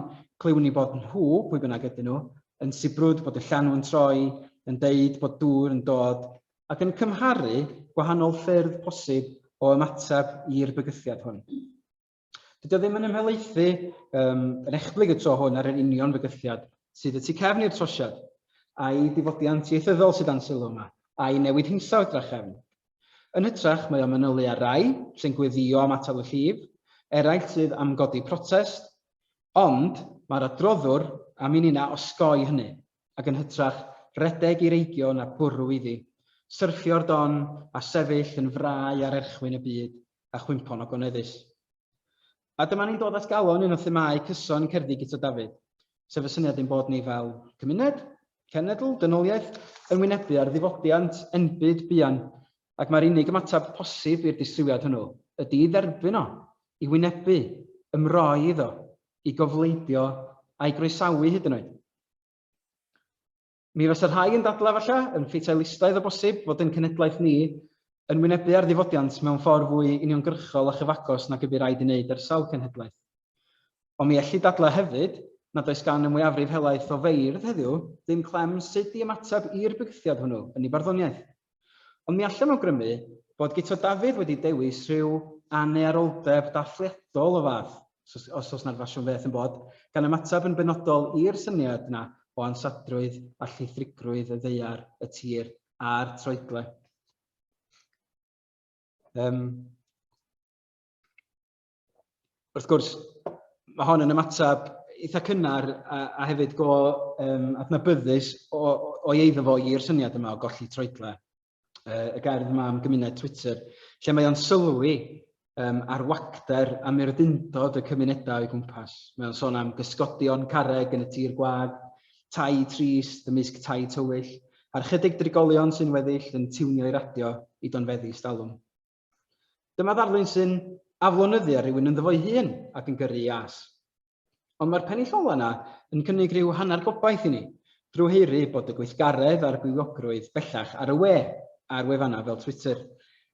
clywn ni bod nhw, pwy bynnag ydyn nhw, yn sibrwd bod y llanw yn troi, yn deud bod dŵr yn dod, ac yn cymharu gwahanol ffyrdd posib o ymateb i'r bygythiad hwn. Dydi o ddim yn ymhelaethu um, yn echblyg y tro hwn ar yr union fygythiad sydd y tu cefn i'r trosiad, a'i difodiant ieithyddol sydd dan sylw yma, a'i newid hinsawdd drachefn, Yn hytrach, mae o'n manylu ar rai sy'n gweddïo am atal y llif, eraill sydd am godi protest, ond mae'r adroddwr am i ninnau osgoi hynny, ac yn hytrach redeg i'r eigion a bwrw iddi, syrthio'r don a sefyll yn frau ar erchwyn y byd a chwympo'n ogoneddus. A dyma ni'n dod at galon un o themâu cyson cerddi Guto Dafydd, sef y syniad ein bod ni fel cymuned, cenedl, dynoliaeth, yn wynebu ar ddiwydiant enbyd buan, ac mai'r unig ymateb posib i'r disrywiad hwnnw ydi i dderbyn o, i wynebu, ymroi iddo, i gofleidio a'i groesawu hyd yn oed. Mi fysa rhai yn dadlau falle, yn ffeteilistaidd o bosib, fod ein cenhedlaeth ni yn wynebu ar ddifodiant mewn ffordd fwy uniongyrchol a chyfagos nag y bu raid ei wneud ar sawl cenhedlaeth. Ond mi ellid dadlau hefyd nad oes gan y mwyafrif helaeth o feirdd heddiw ddim clem sut i ymateb i'r bygythiad hwnnw yn ei barddoniaeth. Ond mi allem awgrymu bod Guto Dafydd wedi dewis rhyw anneuaroldeb dathliadol o fath, os oes 'na'r ffasiwn feth yn bod, gan ymateb yn benodol i'r syniad yna o ansadrwydd a llithrigrwydd y ddaear, y tir a'r troedle. Yym. wrth gwrs, mae hon yn ymateb eitha cynnar a, a hefyd go um, adnabyddus o, o eiddo fo i'r syniad yma o golli troedle. Uh, y gerdd yma am gymuned Twitter, lle mae o'n sylwi um, ar wagder a murdundod y cymunedau o'i gwmpas. Mae o'n sôn am gysgodion carreg yn y tir gwag, tai trist, ymysg tai tywyll, a'r chydig drigolion sy'n weddill yn tiwnio'i radio i donfeddi stalwm. Dyma ddarlun sy'n aflonyddu ar rhywun ynddo fo'i hun ac yn gyrru ias. Ond mae'r pennill ola yna yn cynnig rhyw hanner gobaith i ni, drwy heiri bod y gweithgaredd a'r gwyliogrwydd bellach ar y we, ar wefannau fel Twitter.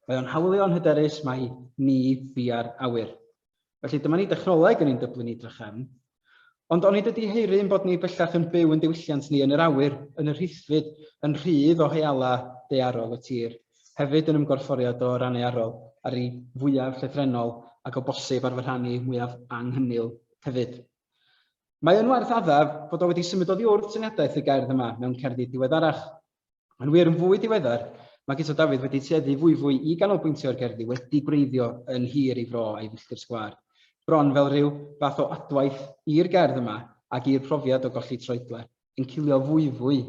Mae o'n hawlio yn hyderus mai ni bia'r awyr. Felly dyma ni dechnoleg yn ein dyblu ni drachefn. Ond onid ydy heiri yn bod ni bellach yn byw yn diwylliant ni yn yr awyr, yn y rhithfyd, yn rhydd o heala dearol y tir, hefyd yn ymgorfforiad o ranearol ar ei fwyaf llythrennol ac o bosib ar fy rhan i mwyaf anghynil hefyd. Mae yn werth addaf bod o wedi symud oddi wrth syniadaeth y gerdd yma mewn cerddi diweddarach, Yn wir, yn fwy diweddar, mae Guto Dafydd wedi tueddu fwyfwy i ganolbwyntio ar gerddi wedi gwreiddio yn hir ei fro a'i filltir sgwâr, bron fel rhyw fath o adwaith i'r gerdd yma ac i'r profiad o golli troedle, yn cilio fwyfwy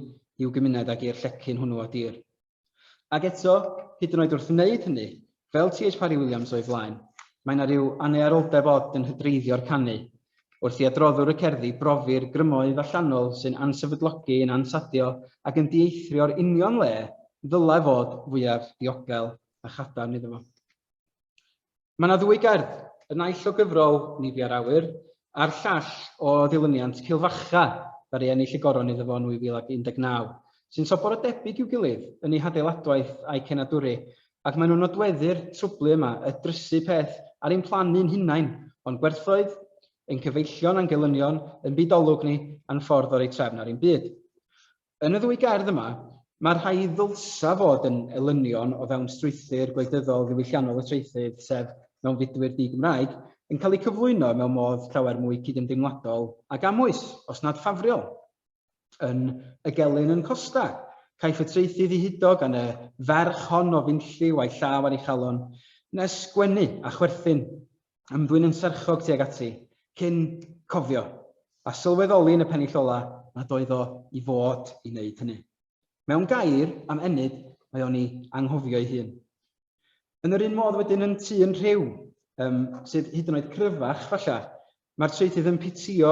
i'w gymuned ac i'r llecyn hwnnw o dir. Ac eto, hyd yn oed wrth wneud hynny, Fel TH Parry Williams o'i flaen, mae 'na ryw annearoldeb od yn hydreiddio'r canu. Wrth i adroddwr y cerddi brofi'r grymoedd allanol sy'n ansefydlogi, yn ansadio ac yn dieithrio'r union le ddylai fod fwyaf diogel a chadarn iddo fo. Mae 'na ddwy gerdd, y naill o gyfrol Ni Bia'r Awyr a'r llall o ddilyniant Cilfacha ddaru ennill y goron iddo fo yn 2019, sy'n sobor o debyg i'w gilydd yn eu hadeiladwaith a'u cenadwri, ac maen nhw'n nodweddu'r trwblu yma, y drysu peth ar ein plannu'n hunain, o'n gwerthoedd, ein cyfeillion a'n gelynion, ein byd olwg ni, a'n ffordd o roi trefn ar ein byd. Yn y ddwy gerdd yma, mae'r rhai y ddylsa fod yn elynion o fewn strwythur gwleidyddol ddiwylliannol y traethydd, sef mewnfudwyr di-Gymraeg, yn cael eu cyflwyno mewn modd llawer mwy cydymdeimladol ac amwys, os nad ffafriol. yn y gelyn yn Costa. Caiff y traethu ddihudo gan y ferch hon o fynlliw a'i llaw ar ei chalon, nes gwenu a chwerthin, ymddwyn yn serchog tuag ati, cyn cofio, a sylweddoli yn y pennill ola, nad oedd o i fod i wneud hynny. Mewn gair, am ennyd, mae o'n i anghofio'i hun. Yn yr un modd wedyn yn tŷ yn rhyw, um, sydd hyd yn oed cryfach, falle, Mae'r traethydd yn pitio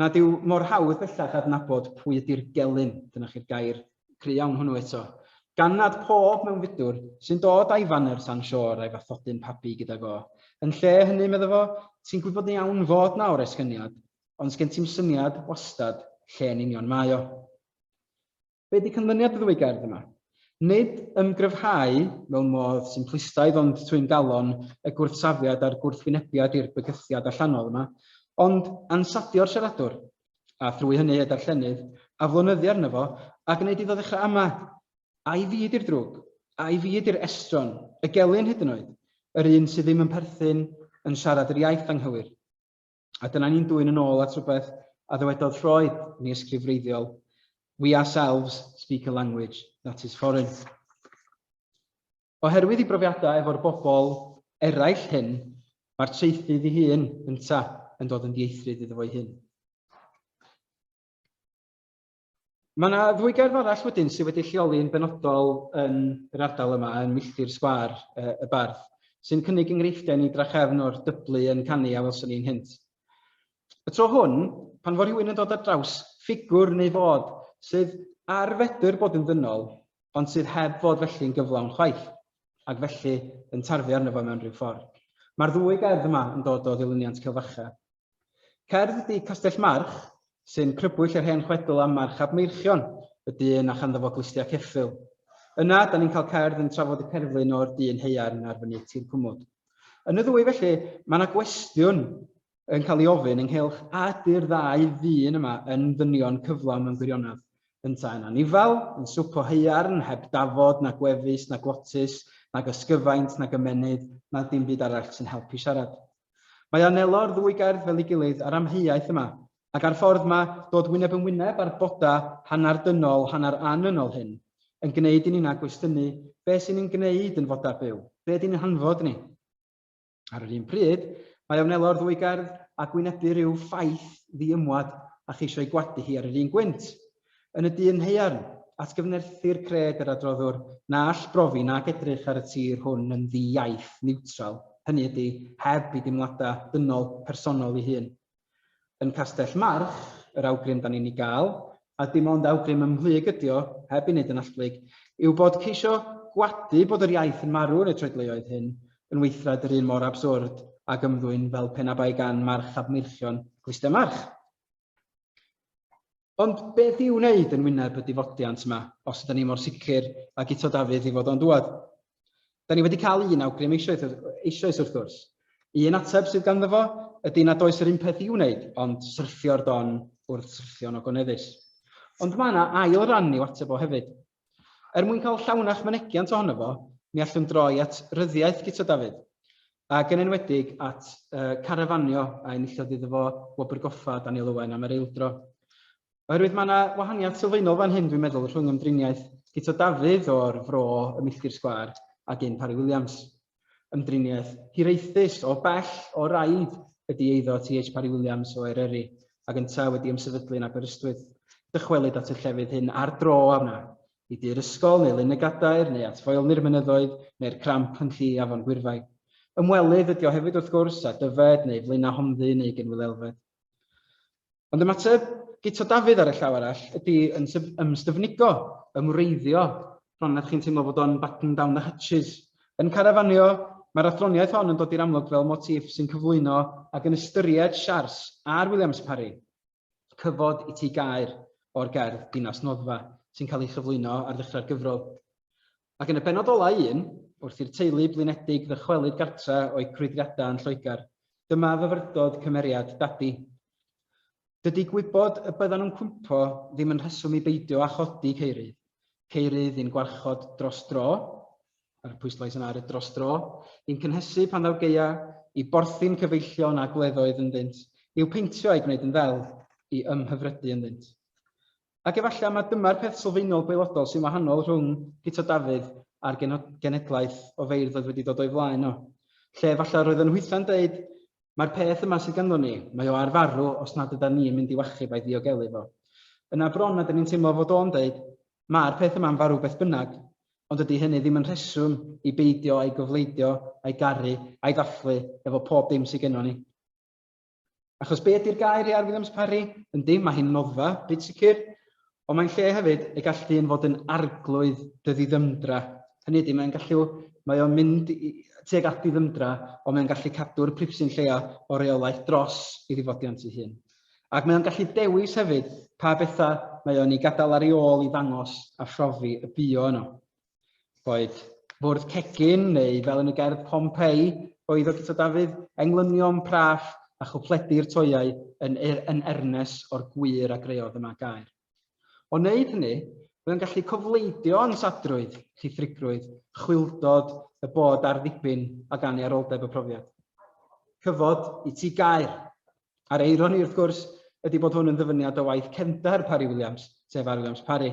nad yw mor hawdd bellach adnabod pwy ydi'r gelyn, dyna chi'r gair cry iawn hwnnw eto, gan nad pob mewnfudwr sy'n dod a'i faner tan shore a'i fathodyn pabi gydag o. Yn lle hynny, medda fo, ti'n gwybod yn iawn fod 'na oresgyniad, ond sgen ti'm syniad, wastad, lle'n union mae o. Be di canlyniad y ddwy gerdd yma? Nid ymgryfhau mewn modd simplistaidd ond twyn galon y gwrthsafiad a'r gwrthwynebiad i'r bygythiad allanol yma, ond ansadio'r siaradwr, a thrwy hynny y darllenydd, aflonyddu arno fo a gwneud iddo ddechrau ama, Ai fi ydi'r drwg? Ai fi ydi'r estron? Y gelyn hyd yn oed? Yr un sydd ddim yn perthyn, yn siarad yr iaith anghywir? A dyna ni'n dwy'n yn ôl at rhywbeth a ddywedodd Freud, ni ysgrif wreiddiol, we ourselves speak a language that is foreign. Oherwydd i brofiadau efo'r bobl eraill hyn, mae'r traethydd i hun ynta yn dod yn dieithrid iddo fo'i hun. Mae yna ddwy gerdd arall wedyn sydd wedi lleoli yn benodol yn yr ardal yma, yn Milltir Sgwâr uh, y Bardd, sy'n cynnig enghreifftiau ni drachefn o'r dyblu yn canu a welson ni'n hynt. Y tro hwn, pan fo rhywun yn dod ar draws ffigwr neu fod sydd ar fedr bod yn ddynol, ond sydd heb fod felly'n gyflawn chwaith, ac felly yn tarfu arno fo mewn rhyw ffordd. Mae'r ddwy gerdd yma yn dod o ddilyniant Cilfacha, Cerdd ydy Castell March, sy'n crybwyll yr hen chwedl am March ab Meirchion, y dyn a chanddo fo glustiau ceffyl. Yna, da ni'n cael cerdd yn trafod y cerflun o'r dyn haearn ar fynydd Tir Cwmwd. Yn y ddwy felly, mae yna gwestiwn yn cael ei ofyn ynghylch a ydy'r ddau ddyn yma yn ddynion cyflawn mewn gwirionedd. Yntau yn anifail, yn swp o haearn, heb dafod, na gwefus, na glotus, nag ysgyfaint, nag ymennydd, na dim byd arall sy'n helpu siarad. Mae anelo'r ddwy gerdd fel ei gilydd a'r amheuaeth yma, ac a'r ffordd mae dod wyneb yn wyneb â'r bodau hanner dynol, hanner annynol hyn, yn gwneud i ni na gwestiynu beth sy'n ein gwneud yn fodau byw, beth ydy'n hanfod ni. Ar yr un pryd, mae anelo'r ddwy gerdd ag wynebu rhyw ffaith ddi-ymwad a cheisio ei gwadu hi ar yr un gwynt. Yn y dyn haearn, atgyfnerthir cred yr adroddwr na all brofi nag edrych ar y tir hwn yn ddi-iaith, niwtral, hynny ydy, heb i deimladau dynol, personol ei hun. Yn Castell March, yr awgrym da ni'n ei gael, a dim ond awgrym ymhlyg ydy o, heb ei wneud yn allblyg, yw bod ceisio gwadu bod yr iaith yn marw yn y troedleoedd hyn yn weithred yr un mor abswrd ag ymddwyn fel pe na bai gan March ab Meirchion glustiau March. Ond beth i'w wneud yn wyneb y difodiant yma, os ydyn ni mor sicr ag Guto Dafydd i fod o'n dŵad? Da ni wedi cael un awgrym eisoes, eisoes wrth gwrs. Un ateb sydd ganddo fo ydy nad oes yr un peth i'w wneud, ond syrffio'r don wrth syrffio'n ogoneddus. Ond mae yna ail ran i'w ateb o hefyd. Er mwyn cael llawnach mynegiant ohono fo, mi allwn droi at ryddiaith Guto Dafydd, ac yn enwedig at carafanio a enillodd iddo fo Wobr Goffa Daniel Owen am yr eildro. Oherwydd mae yna wahaniaeth sylfaenol fan hyn dwi'n meddwl rhwng ymdriniaeth Guto Dafydd o'r Fro ym Milltir Sgwâr ac un Parry Williams. Ymdriniaeth hiraethus o bell o raid ydi eiddo TH Parry Williams o Eryri, ag yntau wedi ymsefydlu yn Aberystwyth. Dychwelyd at y llefydd hyn ar dro a wna i du'r ysgol neu Lyn y Gadair neu at foelni'r mynyddoedd neu'r cramp yn lli afon Gwyrfai. Ymwelydd ydi o hefyd wrth gwrs â Dyfed neu Flaenau Honddyn neu Gynwyl Elfed. Ond ymateb Guto Dafydd ar y llaw arall ydy yn ymstyfnigo, yn wreiddio, bron nad chi'n teimlo fod o'n batten down the hatches. Yn Carafanio, mae'r athroniaeth hon yn dod i'r amlwg fel motif sy'n cyflwyno ac yn ystyried Siars a'r Williams Parry, cyfod i Tŷ Gaer, o'r gerdd Dinas Noddfa, sy'n cael ei chyflwyno ar ddechrau'r gyfrol. Ac yn y bennod olau un, wrth i'r teulu blinedig ddychwelyd gartra o'u crwydriadau yn Lloegr, dyma fyfyrdod cymeriad Dadi. Dydy gwybod y byddan nhw'n cwympo ddim yn rheswm i beidio â chodi Ceirydd. Ceirydd i'n gwarchod dros dro, a'r pwyslais yna ar y dros dro, i'n cynhesu pan ddaw gaea, i borthi'n cyfeillion a gwleddoedd ynddynt, i'w peintio a'i gwneud yn ddel, i ymhyfrydu ynddynt. Ac efallai mai dyma'r peth sylfaenol gwaelodol sy'n wahanol rhwng Guto Dafydd a'r genhedlaeth o feirdd oedd wedi dod o'i flaen o. Lle efallai yr oedd yn hwythau'n deud, 'Mae'r peth yma sydd ganddo ni, mae o ar farw os nad ydan ni yn mynd i'w achub a'i ddiogelu fo. Yna bron nad ydyn ni'n teimlo fod o'n deud, 'Mae'r peth yma'n farw beth bynnag. Ond dydy hynny ddim yn rheswm i beidio a'i gofleidio, a'i garu, a'i ddathlu efo pob dim sydd gennon ni. Achos be ydy'r gair i ar Williams Parry? Yndi, mae hi'n noddfa, byd sicr, ond mae'n lle hefyd y gall dyn fod yn arglwydd dy ddiddymdra. Hynny ydy, mae'n gallu, mae o'n mynd tuag at ddiddymdra, ond mae'n gallu cadw'r pripsyn lleia o reolaeth dros i ddifodiant ei hun. Ac mae o'n gallu dewis hefyd pa bethau mae o'n ei gadael ar ei ôl i ddangos a phrofi y bu o yno. Boed bwrdd cegin neu, fel yn y gerdd Pompeii, oedd o Guto Dafydd, englynion praff a chwpledi'r toeau yn yn ernes o'r gwir a greodd y Mag Aur. O wneud hynny, byddwn gallu cofleidio ansadrwydd, llithrigrwydd, chwyldod y bod ar ddibyn ag anniaroldeb y profiad. Cyfod i ti gaer! A'r eironi, wrth gwrs, ydi bod hwn yn ddyfyniad o waith cefndar Parry Williams, sef Arwilliams Parry.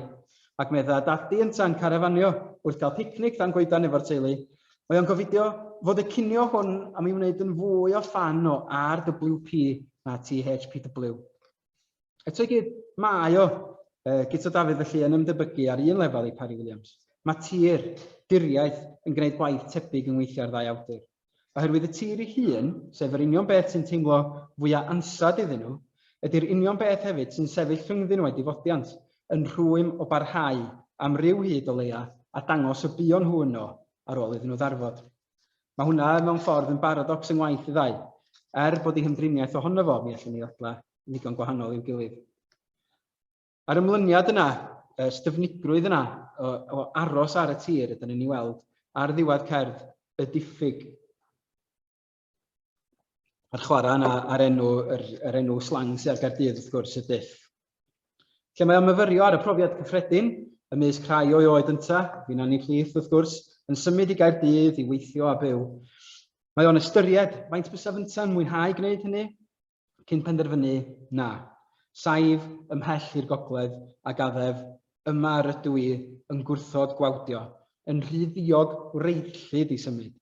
Ac medda Dadi ynta'n carafanio wrth gael picnic dan goedan efo'r teulu, Mae o'n gofidio fod y cinio hwn am ei wneud yn fwy o ffan o RWP na THPW. Eto i gyd, mae o, Guto Dafydd felly, yn ymdebygu ar un lefel i Parry Williams. Mae tir, diriaeth, yn gwneud gwaith tebyg yng ngweithiau'r ddau awdur. Oherwydd y tir ei hun, sef yr union beth sy'n teimlo fwya' ansawdd iddyn nhw, ydi'r union beth hefyd sy'n sefyll rhyngddyn nhw â'i difodiant, yn rhwym o barhau, am ryw hyd o leia', a dangos y buon nhw yno ar ôl iddyn nhw ddarfod. Mae hwnna, mewn ffordd, yn baradocs yng ngwaith y ddau. Er bod eu hymdriniaeth ohono fo, mi allwn ni ddadlau, yn ddigon gwahanol i'w gilydd. A'r ymlyniad yna, y styfnigrwydd yna o, o aros ar y tir, ydyn ni'n ei weld ar ddiwedd cerdd y diffyg. A'r chwarae yna ar enw, yr, yr enw slang sydd ar Gardydd, wrth gwrs, y diff. Lle mae o'n myfyrio ar y profiad cyffredin, ymysg rhai o'i oed ynta, fi'n anni plith, wrth gwrs, yn symud i Gaerdydd i weithio a byw. Mae o'n ystyried faint bysaf ynta'n mwynhau gwneud hynny, cyn penderfynu na, saif ymhell i'r gogledd a gaddef, yma yr ydw i yn gwrthod gwawdio, yn rhy ddiog wreiddllyd i symud,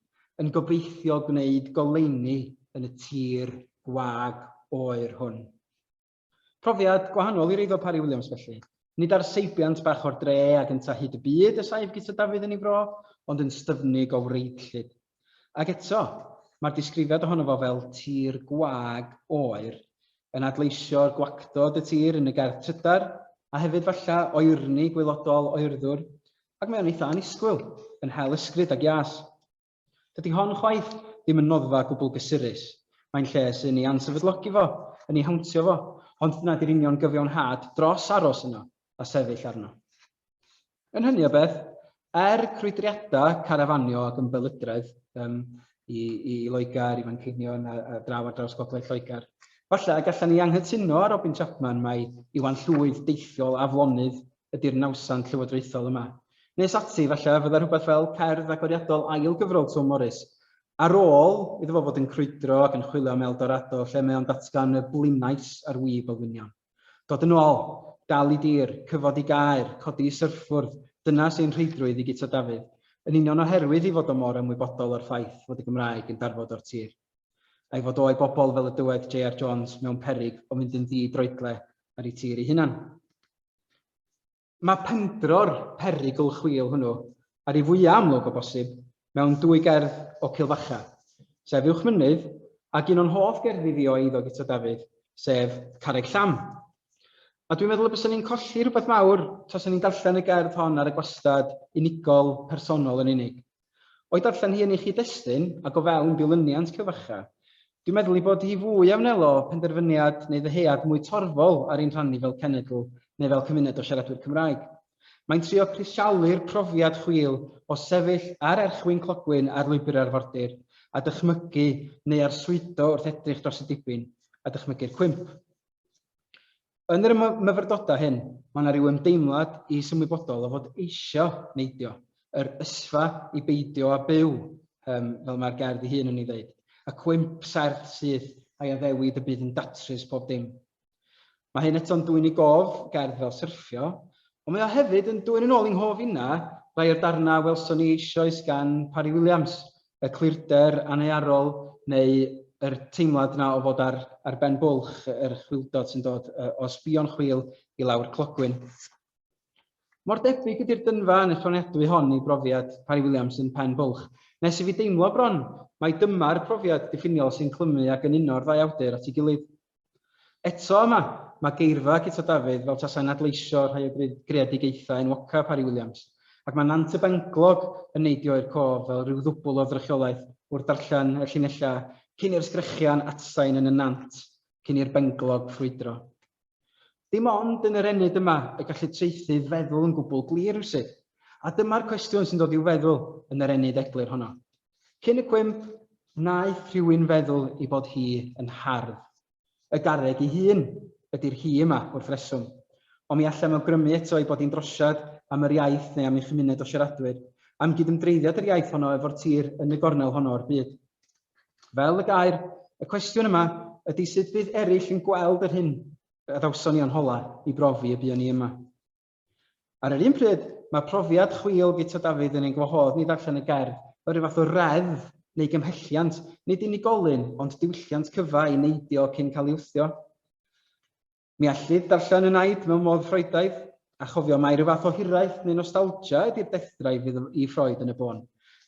yn gobeithio gwneud goleuni yn y tir gwag oer hwn. Profiad gwahanol i'r eiddo Parry Williams felly. Nid ar seibiant bach o'r dre ag yntau hyd y byd y saif Guto Dafydd yn ei fro, ond yn styfnig o wreiddllyd. Ac eto, mae'r disgrifiad ohono fo fel 'tir gwag oer' yn adleisio'r gwactod y tir yn y gerdd trydar, a hefyd falle oerni gwaelodol oerddwr, ac mae o'n eitha' annisgwyl, yn hel ysgrid ac ias. Dydi hon chwaith ddim yn noddfa gwbl gysurus, mae'n lle sy'n ei ansefydlogi fo, yn ei hawntio fo, ond dyna 'di'r union gyfiawnhad dros aros yno a sefyll arno. Yn hynny o beth, er crwydriadau carafanio ac ymbelydredd um, i, i Loegr, i Fanceinion a, a draw ar draws gogledd Lloegr, falle y gallan ni anghytuno ar Robin Chapman mai Iwan Llwyd deithiol aflonydd ydy'r nawsan llywodraethol yma. Nes ati, falle, fydda rhywbeth fel cerdd agoriadol ail gyfrol Twm Morris, ar ôl iddo fo fod yn crwydro ac yn chwilio am Eldorado, lle mae o'n datgan y blinais ar wib olwynion. Dod yn ôl, dal i dir, cyfod i gaer, codi i syrffwrdd, dyna sy'n rheidrwydd i Guto Dafydd, yn union oherwydd ei fod o mor ymwybodol o'r ffaith fod y Gymraeg yn darfod o'r tir. A'i fod o a'i bobl fel y dywed JR Jones mewn peryg o fynd yn ddi-droedle ar ei tir ei hunan. Mae pendro'r perygl chwil hwnnw ar ei fwyaf amlwg o bosib mewn dwy gerdd o Cilfacha, sef Uwchmynydd, ac un o'n hoff gerddi fi o eiddo Guto Dafydd, sef Carreg Llam. A dwi'n meddwl y bysen ni'n colli rhywbeth mawr tasa ni'n darllen y gerdd hon ar y gwastad unigol, personol yn unig. O'i darllen hi yn ei chyd-destun, ac o fewn dilyniant cyfarcha, dwi'n meddwl ei bod hi fwy a wnelo penderfyniad neu ddyhead mwy torfol ar ein rhan ni fel cenedl neu fel cymuned o siaradwyr Cymraeg. Mae'n trio crisialu'r profiad chwil o sefyll ar erchwyn clogwyn ar lwybr arfordir a dychmygu neu arswydo wrth edrych dros y dibyn a dychmygu'r cwymp. Yn yr myfyrdodau hyn, mae yna ryw ymdeimlad is ymwybodol o fod eisio neidio, yr ysfa i beidio â byw, um, fel mae'r gerdd ei hun yn ei ddeud, y cwymp serth syth a'i addewid y bydd yn datrys pob dim. Mae hyn eto'n dwy'n ei gof, gerdd fel syrffio, ond mae o hefyd yn dwy'n yn ôl i'n hof inna, rai o'r darnau welson ni eisoes gan Parry Williams, y clirder annearol neu yr teimlad 'na o fod ar ar ben bwlch yr chwildod sy'n dod yy o sbïo'n chwil i lawr clogwyn. Mor debyg ydy'r dynfa annichonedwy hon i brofiad Parry Williams yn Pen Bwlch, nes i fi deimlo bron mai dyma'r profiad diffiniol sy'n clymu ac yn uno'r ddau awdur at ei gilydd. Eto yma, mae geirfa Guto Dafydd fel tasai'n adleisio rhai o greadigaethau enwocaf Harri Williams, ac mae Nant y Benglog yn neidio i'r cof fel rhyw ddwbwl o ddrychiolaeth wrth ddarllen y llinellau Cyn i'r sgrechian atsain yn y nant, cyn i'r benglog ffrwydro. Dim ond yn yr ennyd yma y gallu traethydd feddwl yn gwbl glir rywsut, a dyma'r cwestiwn sy'n dod i'w feddwl yn yr ennyd eglur honno. Cyn y cwymp, wnaeth rhywun feddwl ei bod hi yn hardd. Y garreg ei hun ydy'r hi yma, wrth reswm. Ond mi allem awgrymu eto ei bod hi'n drosiad am yr iaith neu am ei chymuned o siaradwyr, am gydymdreiddiad yr iaith honno efo'r tir yn y gornel honno o'r byd. Fel y gair, y cwestiwn yma ydy sut bydd eraill yn gweld yr hyn Adawson ni o'n hola i brofi y buon ni yma. Ar yr un pryd, mae profiad chwil Guto Dafydd yn ein gwahodd ni ddarllen y gerdd fel rhyw fath o reddf neu gymhelliant, nid unigolyn, ond diwylliant cyfa i neidio cyn cael ei wthio. Mi allid ddarllen y naid mewn modd Ffroedaidd, a chofio mai rhyw fath o hiraeth neu nostalgia ydy'r dethdrau fydd i Ffroed yn y bôn.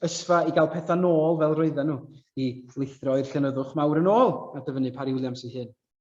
Ysfa i gael pethau nôl fel roedden nhw, i lithro i'r llenyddwch mawr yn ôl a dyfynnu Parry Williams ei hun.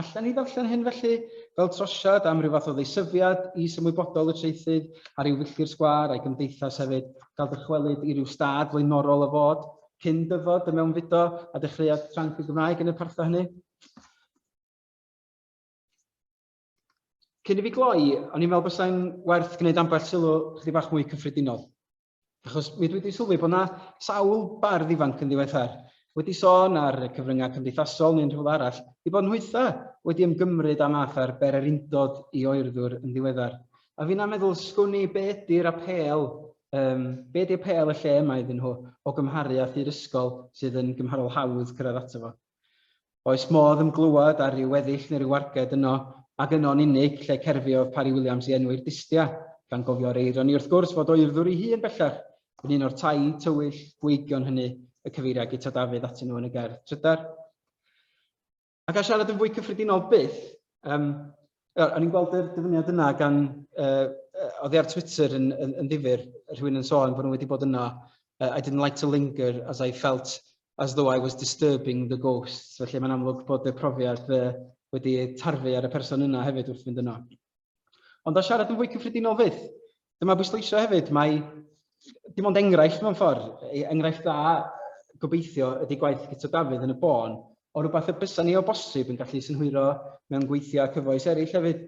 Allen ni ddarllen hyn felly fel trosiad am ryw fath o ddeisyfiad is ymwybodol y traethydd ar ryw filltir sgwâr a'i gymdeithas hefyd, gael dychwelyd i ryw stad flaenorol o fod, cyn dyfod y mewnfudo a dechreuad tranc y Gymraeg yn y partha hynny. Cyn i fi gloi, o'n i'n meddwl bysau'n werth gwneud ambell sylw chdi bach mwy cyffredinol. Achos mi dwi wedi sylwi bod yna sawl bardd ifanc yn ddiweddar wedi sôn ar y cyfryngau cymdeithasol neu'n rhywle arall, ei bod nhwytha wedi ymgymryd â math ar bererindod i oerddwr yn ddiweddar. A finna'n meddwl, sgwn i, be ydy'r apêl, um, be ydy apêl y lle yma iddyn nhw o gymharu â thŷ'r ysgol sydd yn gymharol hawdd cyrraedd ato fo? Oes modd ymglywed ar ryw weddill neu ryw warged yno, ac yno'n unig, lle cerfiodd Parry Williams i enwi'r dystia, gan gofio ar eironi wrth gwrs fod o'i urddwr ei hun bellach yn un o'r tai tywyll gweigion hynny y cyfeiria Guto Dafydd atyn nhw yn y gerdd trydar. A ga i siarad yn fwy cyffredinol byth? Yym, O'n i'n gweld yr dyfyniad yna gan yy oedd hi ar Twitter yn yn yn ddifyr, rhywun yn sôn bod nhw wedi bod yno uh, I didn't like to linger as I felt as though I was disturbing the ghosts. Felly mae'n amlwg bod y profiad uh, wedi tarfu ar y person yna hefyd wrth fynd yno. Ond a siarad yn fwy cyffredinol fydd, Dyma bwysleisio hefyd, mae dim ond enghraifft mewn ffordd, e, enghraifft dda gobeithio ydy gwaith Guto Dafydd yn y bôn, o rhywbeth y bysa ni o bosib yn gallu synhwyro mewn gweithiau cyfoes eraill hefyd.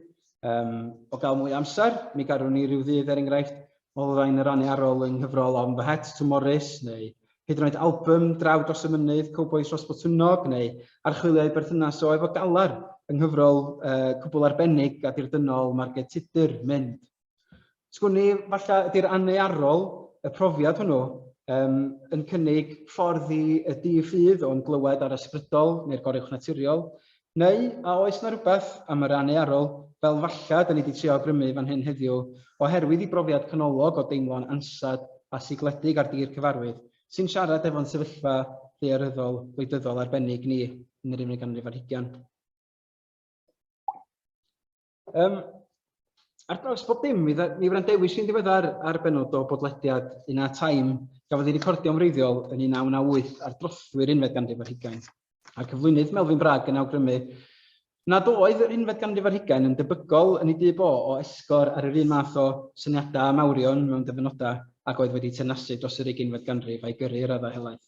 Um, o gael mwy amser, mi garwn ni rhyw ddydd er enghraifft olrhain y rannu arol yng nghyfrol On the Het to Morris neu hyd yn oed album Draw dros y Mynydd, Cowboys dros Botwnnog neu archwiliau berthynas o efo galar yng nghyfrol uh, cwbl arbennig a dirdynol Margaret Tudor, Mynd. Sgwn i, falle ydy'r annearol, y profiad hwnnw, um, yn cynnig ffordd i y di ffydd o'n glywed ar ysbrydol neu'r goruwch naturiol, neu a oes na rhywbeth am yr annearol fel falle da ni wedi trio grymu fan hyn heddiw oherwydd i brofiad canolog o deimlo'n ansad a sigledig ar dir cyfarwydd sy'n siarad efo'n sefyllfa ddaearyddol wleidyddol arbennig ni yn yr unfed ganrif ar hugain. Um, ar draws bob dim, mi, mi wrandewis i'n ddiweddar ar benod o bodlediad un a taim gafodd ei recordio yn wreiddiol yn 1998 ar drothwy'r unfed ganrif ar hugain. A'r cyflwynydd Melvin Bragg yn awgrymu nad oedd yr unfed ganrif ar hugain yn debygol yn ei dyb o o esgor ar yr un math o syniadau a mawrion mewn dyfynodau ac oedd wedi tenasu dros yr uginfed ganrif a'i gyrru i raddau helaeth.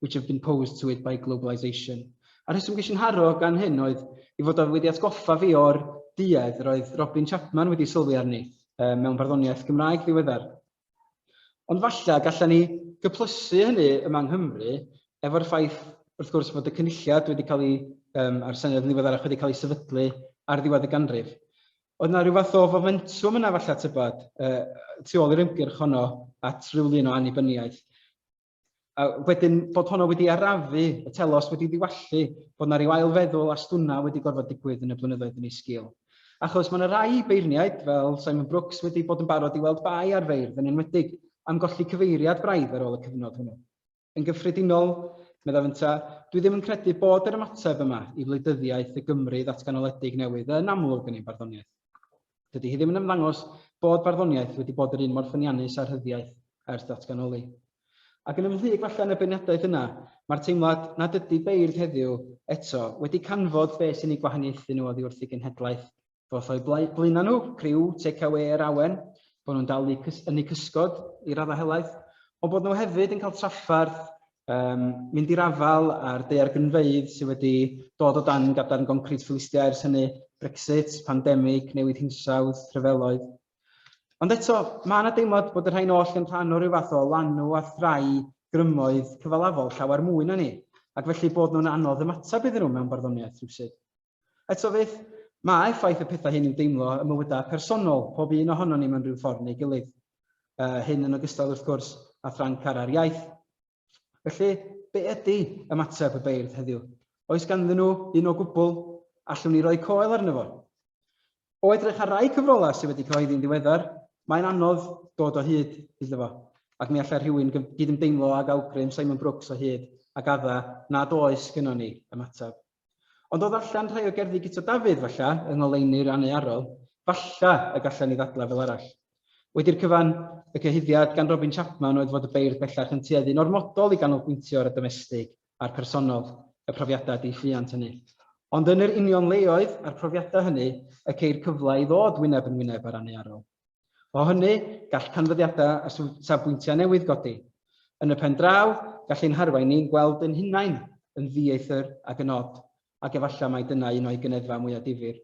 which have been posed to it by globalisation. A'r rheswm ges i'n haro gan hyn oedd i fod wedi atgoffa fi o'r duedd roedd Robin Chapman wedi sylwi arni uh, mewn barddoniaeth Gymraeg ddiweddar. Ond falle gallan ni gyplysu hynny yma yng Nghymru efo'r ffaith wrth gwrs fod y cynulliad wedi cael ei, um, a'r Senedd yn ddiweddarach wedi cael ei sefydlu ar ddiwedd y ganrif. Oedd yna rhyw fath o fomentwm yna falle tybad uh, tu ôl i'r ymgyrch honno at ryw lun o annibyniaeth. A wedyn bod honno wedi arafu, y telos wedi diwallu, bod yna rhyw ailfeddwl a stwna wedi gorfod digwydd yn y blynyddoedd yn ei sgil. Achos mae yna rai beirniaid, fel Simon Brooks, wedi bod yn barod i weld bai ar feirdd yn enwedig am golli cyfeiriad braidd ar ôl y cyfnod hwnnw. Yn gyffredinol, meddaf ynta, dwi ddim yn credu bod yr ymateb yma i wleidyddiaeth y Gymru ddatganoledig newydd yn amlwg yn ein barddoniaeth. Dydy hi ddim yn ymddangos bod barddoniaeth wedi bod yr un mor ffyniannus â rhyddiaith ers datganoli. Ac yn ymhlug falle yn y beirniadaeth yna, mae'r teimlad nad ydy beirdd heddiw, eto, wedi canfod be sy'n eu gwahaniaethu nhw oddi wrth eu genhedlaeth ddoth o'u blaenau nhw, criw take-awê yr awen, bod nhw'n dal yn eu cysgod i raddau helaeth, ond bod nhw hefyd yn cael trafferth um, mynd i'r afael a'r deiargynfeydd sydd wedi dod o dan gadarn goncrit ffilistiau ers hynny, Brexit, pandemig, newid hinsawdd, rhyfeloedd. Ond eto, mae yna deimlad bod y rhain oll yn rhan o ryw fath o lanw a thrai grymoedd cyfalafol llawer mwy na ni, ac felly bod nhw'n anodd ymateb iddyn nhw mewn barddoniaeth rhywsyd. Eto fyth, mae effaith y pethau hyn i'w deimlo ym mywydau personol pob un ohonon ni mewn rhyw ffordd neu gilydd. Yy, hyn yn ogystal, wrth gwrs, â thra'n cara'r iaith. Felly, be ydy ymateb y beirdd heddiw? Oes ganddyn nhw un o gwbl? Allwn ni roi coel arno fo? O edrych ar rai cyfrolau sydd wedi cyhoeddi'n ddiweddar, mae'n anodd dod o hyd iddo fo, ac mi allai rhywun gyd-ymdeimlo ag awgrym Simon Brooks o hyd ag adda nad oes gynnon ni ymateb. Ond o ddarllen rhai o gerddi Guto Dafydd, falla, yng ngoleuni Rannu Arwel, falla y gallen ni ddadlau fel arall. Wedi'r cyfan, y cyhuddiad gan Robin Chapman oedd fod y beirdd bellach yn tueddu'n ormodol i ganolbwyntio ar y domestig a'r personol, y profiadau diwylliant hynny. Ond yn yr union leoedd a'r profiadau hynny y ceir cyfle i ddod wyneb yn wyneb â Rannu Arwel. O hynny, gall canfyddiadau a safbwyntiau newydd godi. Yn y pen draw, gall ein harwain ni'n gweld ein hunain yn ddieithr ac yn od, ac efallai mai dyna un o'i gyneddfau mwyaf difyr.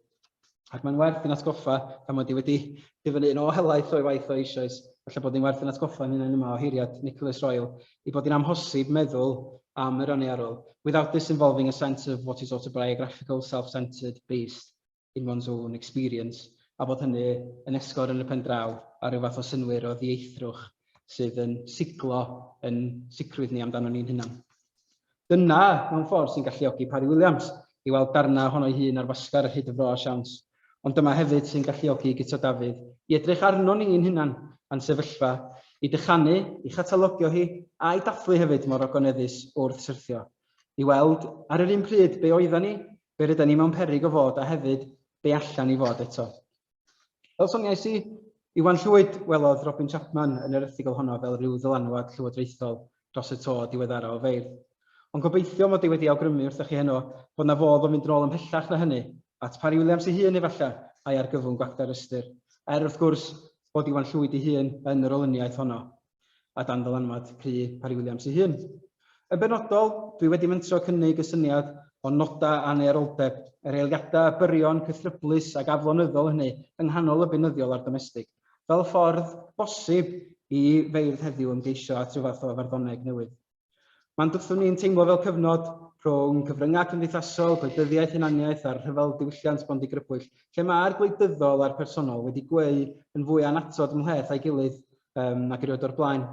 Ac mae'n werth i'n atgoffa, gan mod i wedi dyfynnu yn ôl helaeth o'i waith o eisoes, falle bod ni'n werth i'n atgoffa ein hunain yma, oheiriad Nicholas Royle, ei bod hi'n amhosib meddwl am yr aniarol, without this involving a sense of what is autobiographical, self-centred, based. in one's own experience, a bod hynny yn esgor yn y pen draw ar ryw fath o synnwyr o ddieithrwch sydd yn siglo yn sicrwydd ni amdano ni'n hunan. Dyna, mewn ffordd, sy'n galluogi Parry Williams i weld darnau ohono'i hun ar wasgar ar hyd y fro a siawns, ond dyma hefyd sy'n galluogi Guto Dafydd i edrych arno ni'n hunan a'n sefyllfa, i dychanu, i chatalogio hi, a'i dathlu hefyd mor ogoneddus wrth syrthio, i weld, ar yr un pryd, be oeddan ni, Be rydan ni mewn peryg o fod a hefyd be allan ni fod eto? Fel soniais i, Iwan Llwyd welodd Robin Chapman yn yr erthygl honno fel rhyw ddylanwad llywodraethol dros y to diweddara o feirdd. Ond gobeithio mod i wedi awgrymu wrthoch chi heno bod 'na fodd o fynd yn ôl ymhellach na hynny, at Parry Williams ei hun efallai, a'i argyfwng gwacter ystyr. Er, wrth gwrs, bod Iwan Llwyd ei hun yn yr olyniaeth honno. a dan ddylanwad Prue Parry Williams ei hun. Yn benodol, dwi wedi mentro cynnig y syniad o nodau aneuroldeb, yr eiliadau a byrion cythryblus ac aflonyddol hynny yng nghanol y beunyddiol a'r domestig, fel ffordd bosib i feirdd heddiw ymgeisio at ryw fath o farddoneg newydd. Mae'n byddwn ni'n teimlo fel cyfnod rhwng cyfryngau cymdeithasol, gwleidyddiaeth, hunaniaeth a'r rhyfel diwylliant bondigrybwyll, lle mae'r gwleidyddol a'r personol wedi gweu yn fwy annatod ymhleth a'i gilydd um, nag erioed o'r blaen.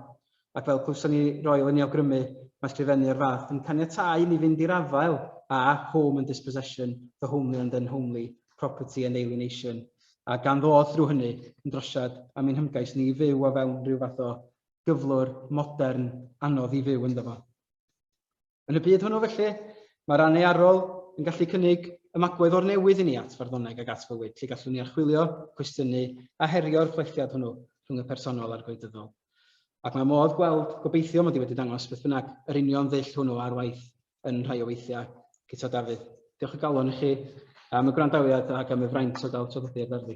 Ac fel clywson ni Royal yn ei awgrymu, mae sgrifennu o'r fath yn caniatáu i ni fynd i'r afael â home and dispossession, the homely and unhomely, property and alienation, a gan ddod drwy hynny yn drosiad am ein hymgais ni i fyw o fewn rhyw fath o gyflwr, modern, anodd i fyw ynddo fo. Yn y byd hwnnw felly, mae'r anearol yn gallu cynnig ymagwedd o'r newydd i ni at farddoneg ag at fywyd, lle gallwn ni archwilio, cwestiynu a herio'r chwelltiad hwnnw rhwng y personol a'r gwleidyddol. Ac mae modd gweld, gobeithio mod i wedi dangos beth bynnag, yr union ddull hwnnw ar waith yn rhai o weithiau Guto Dafydd. Diolch o galon i chi am y gwrandawiad ac am y fraint o gael traddodiad ar fi.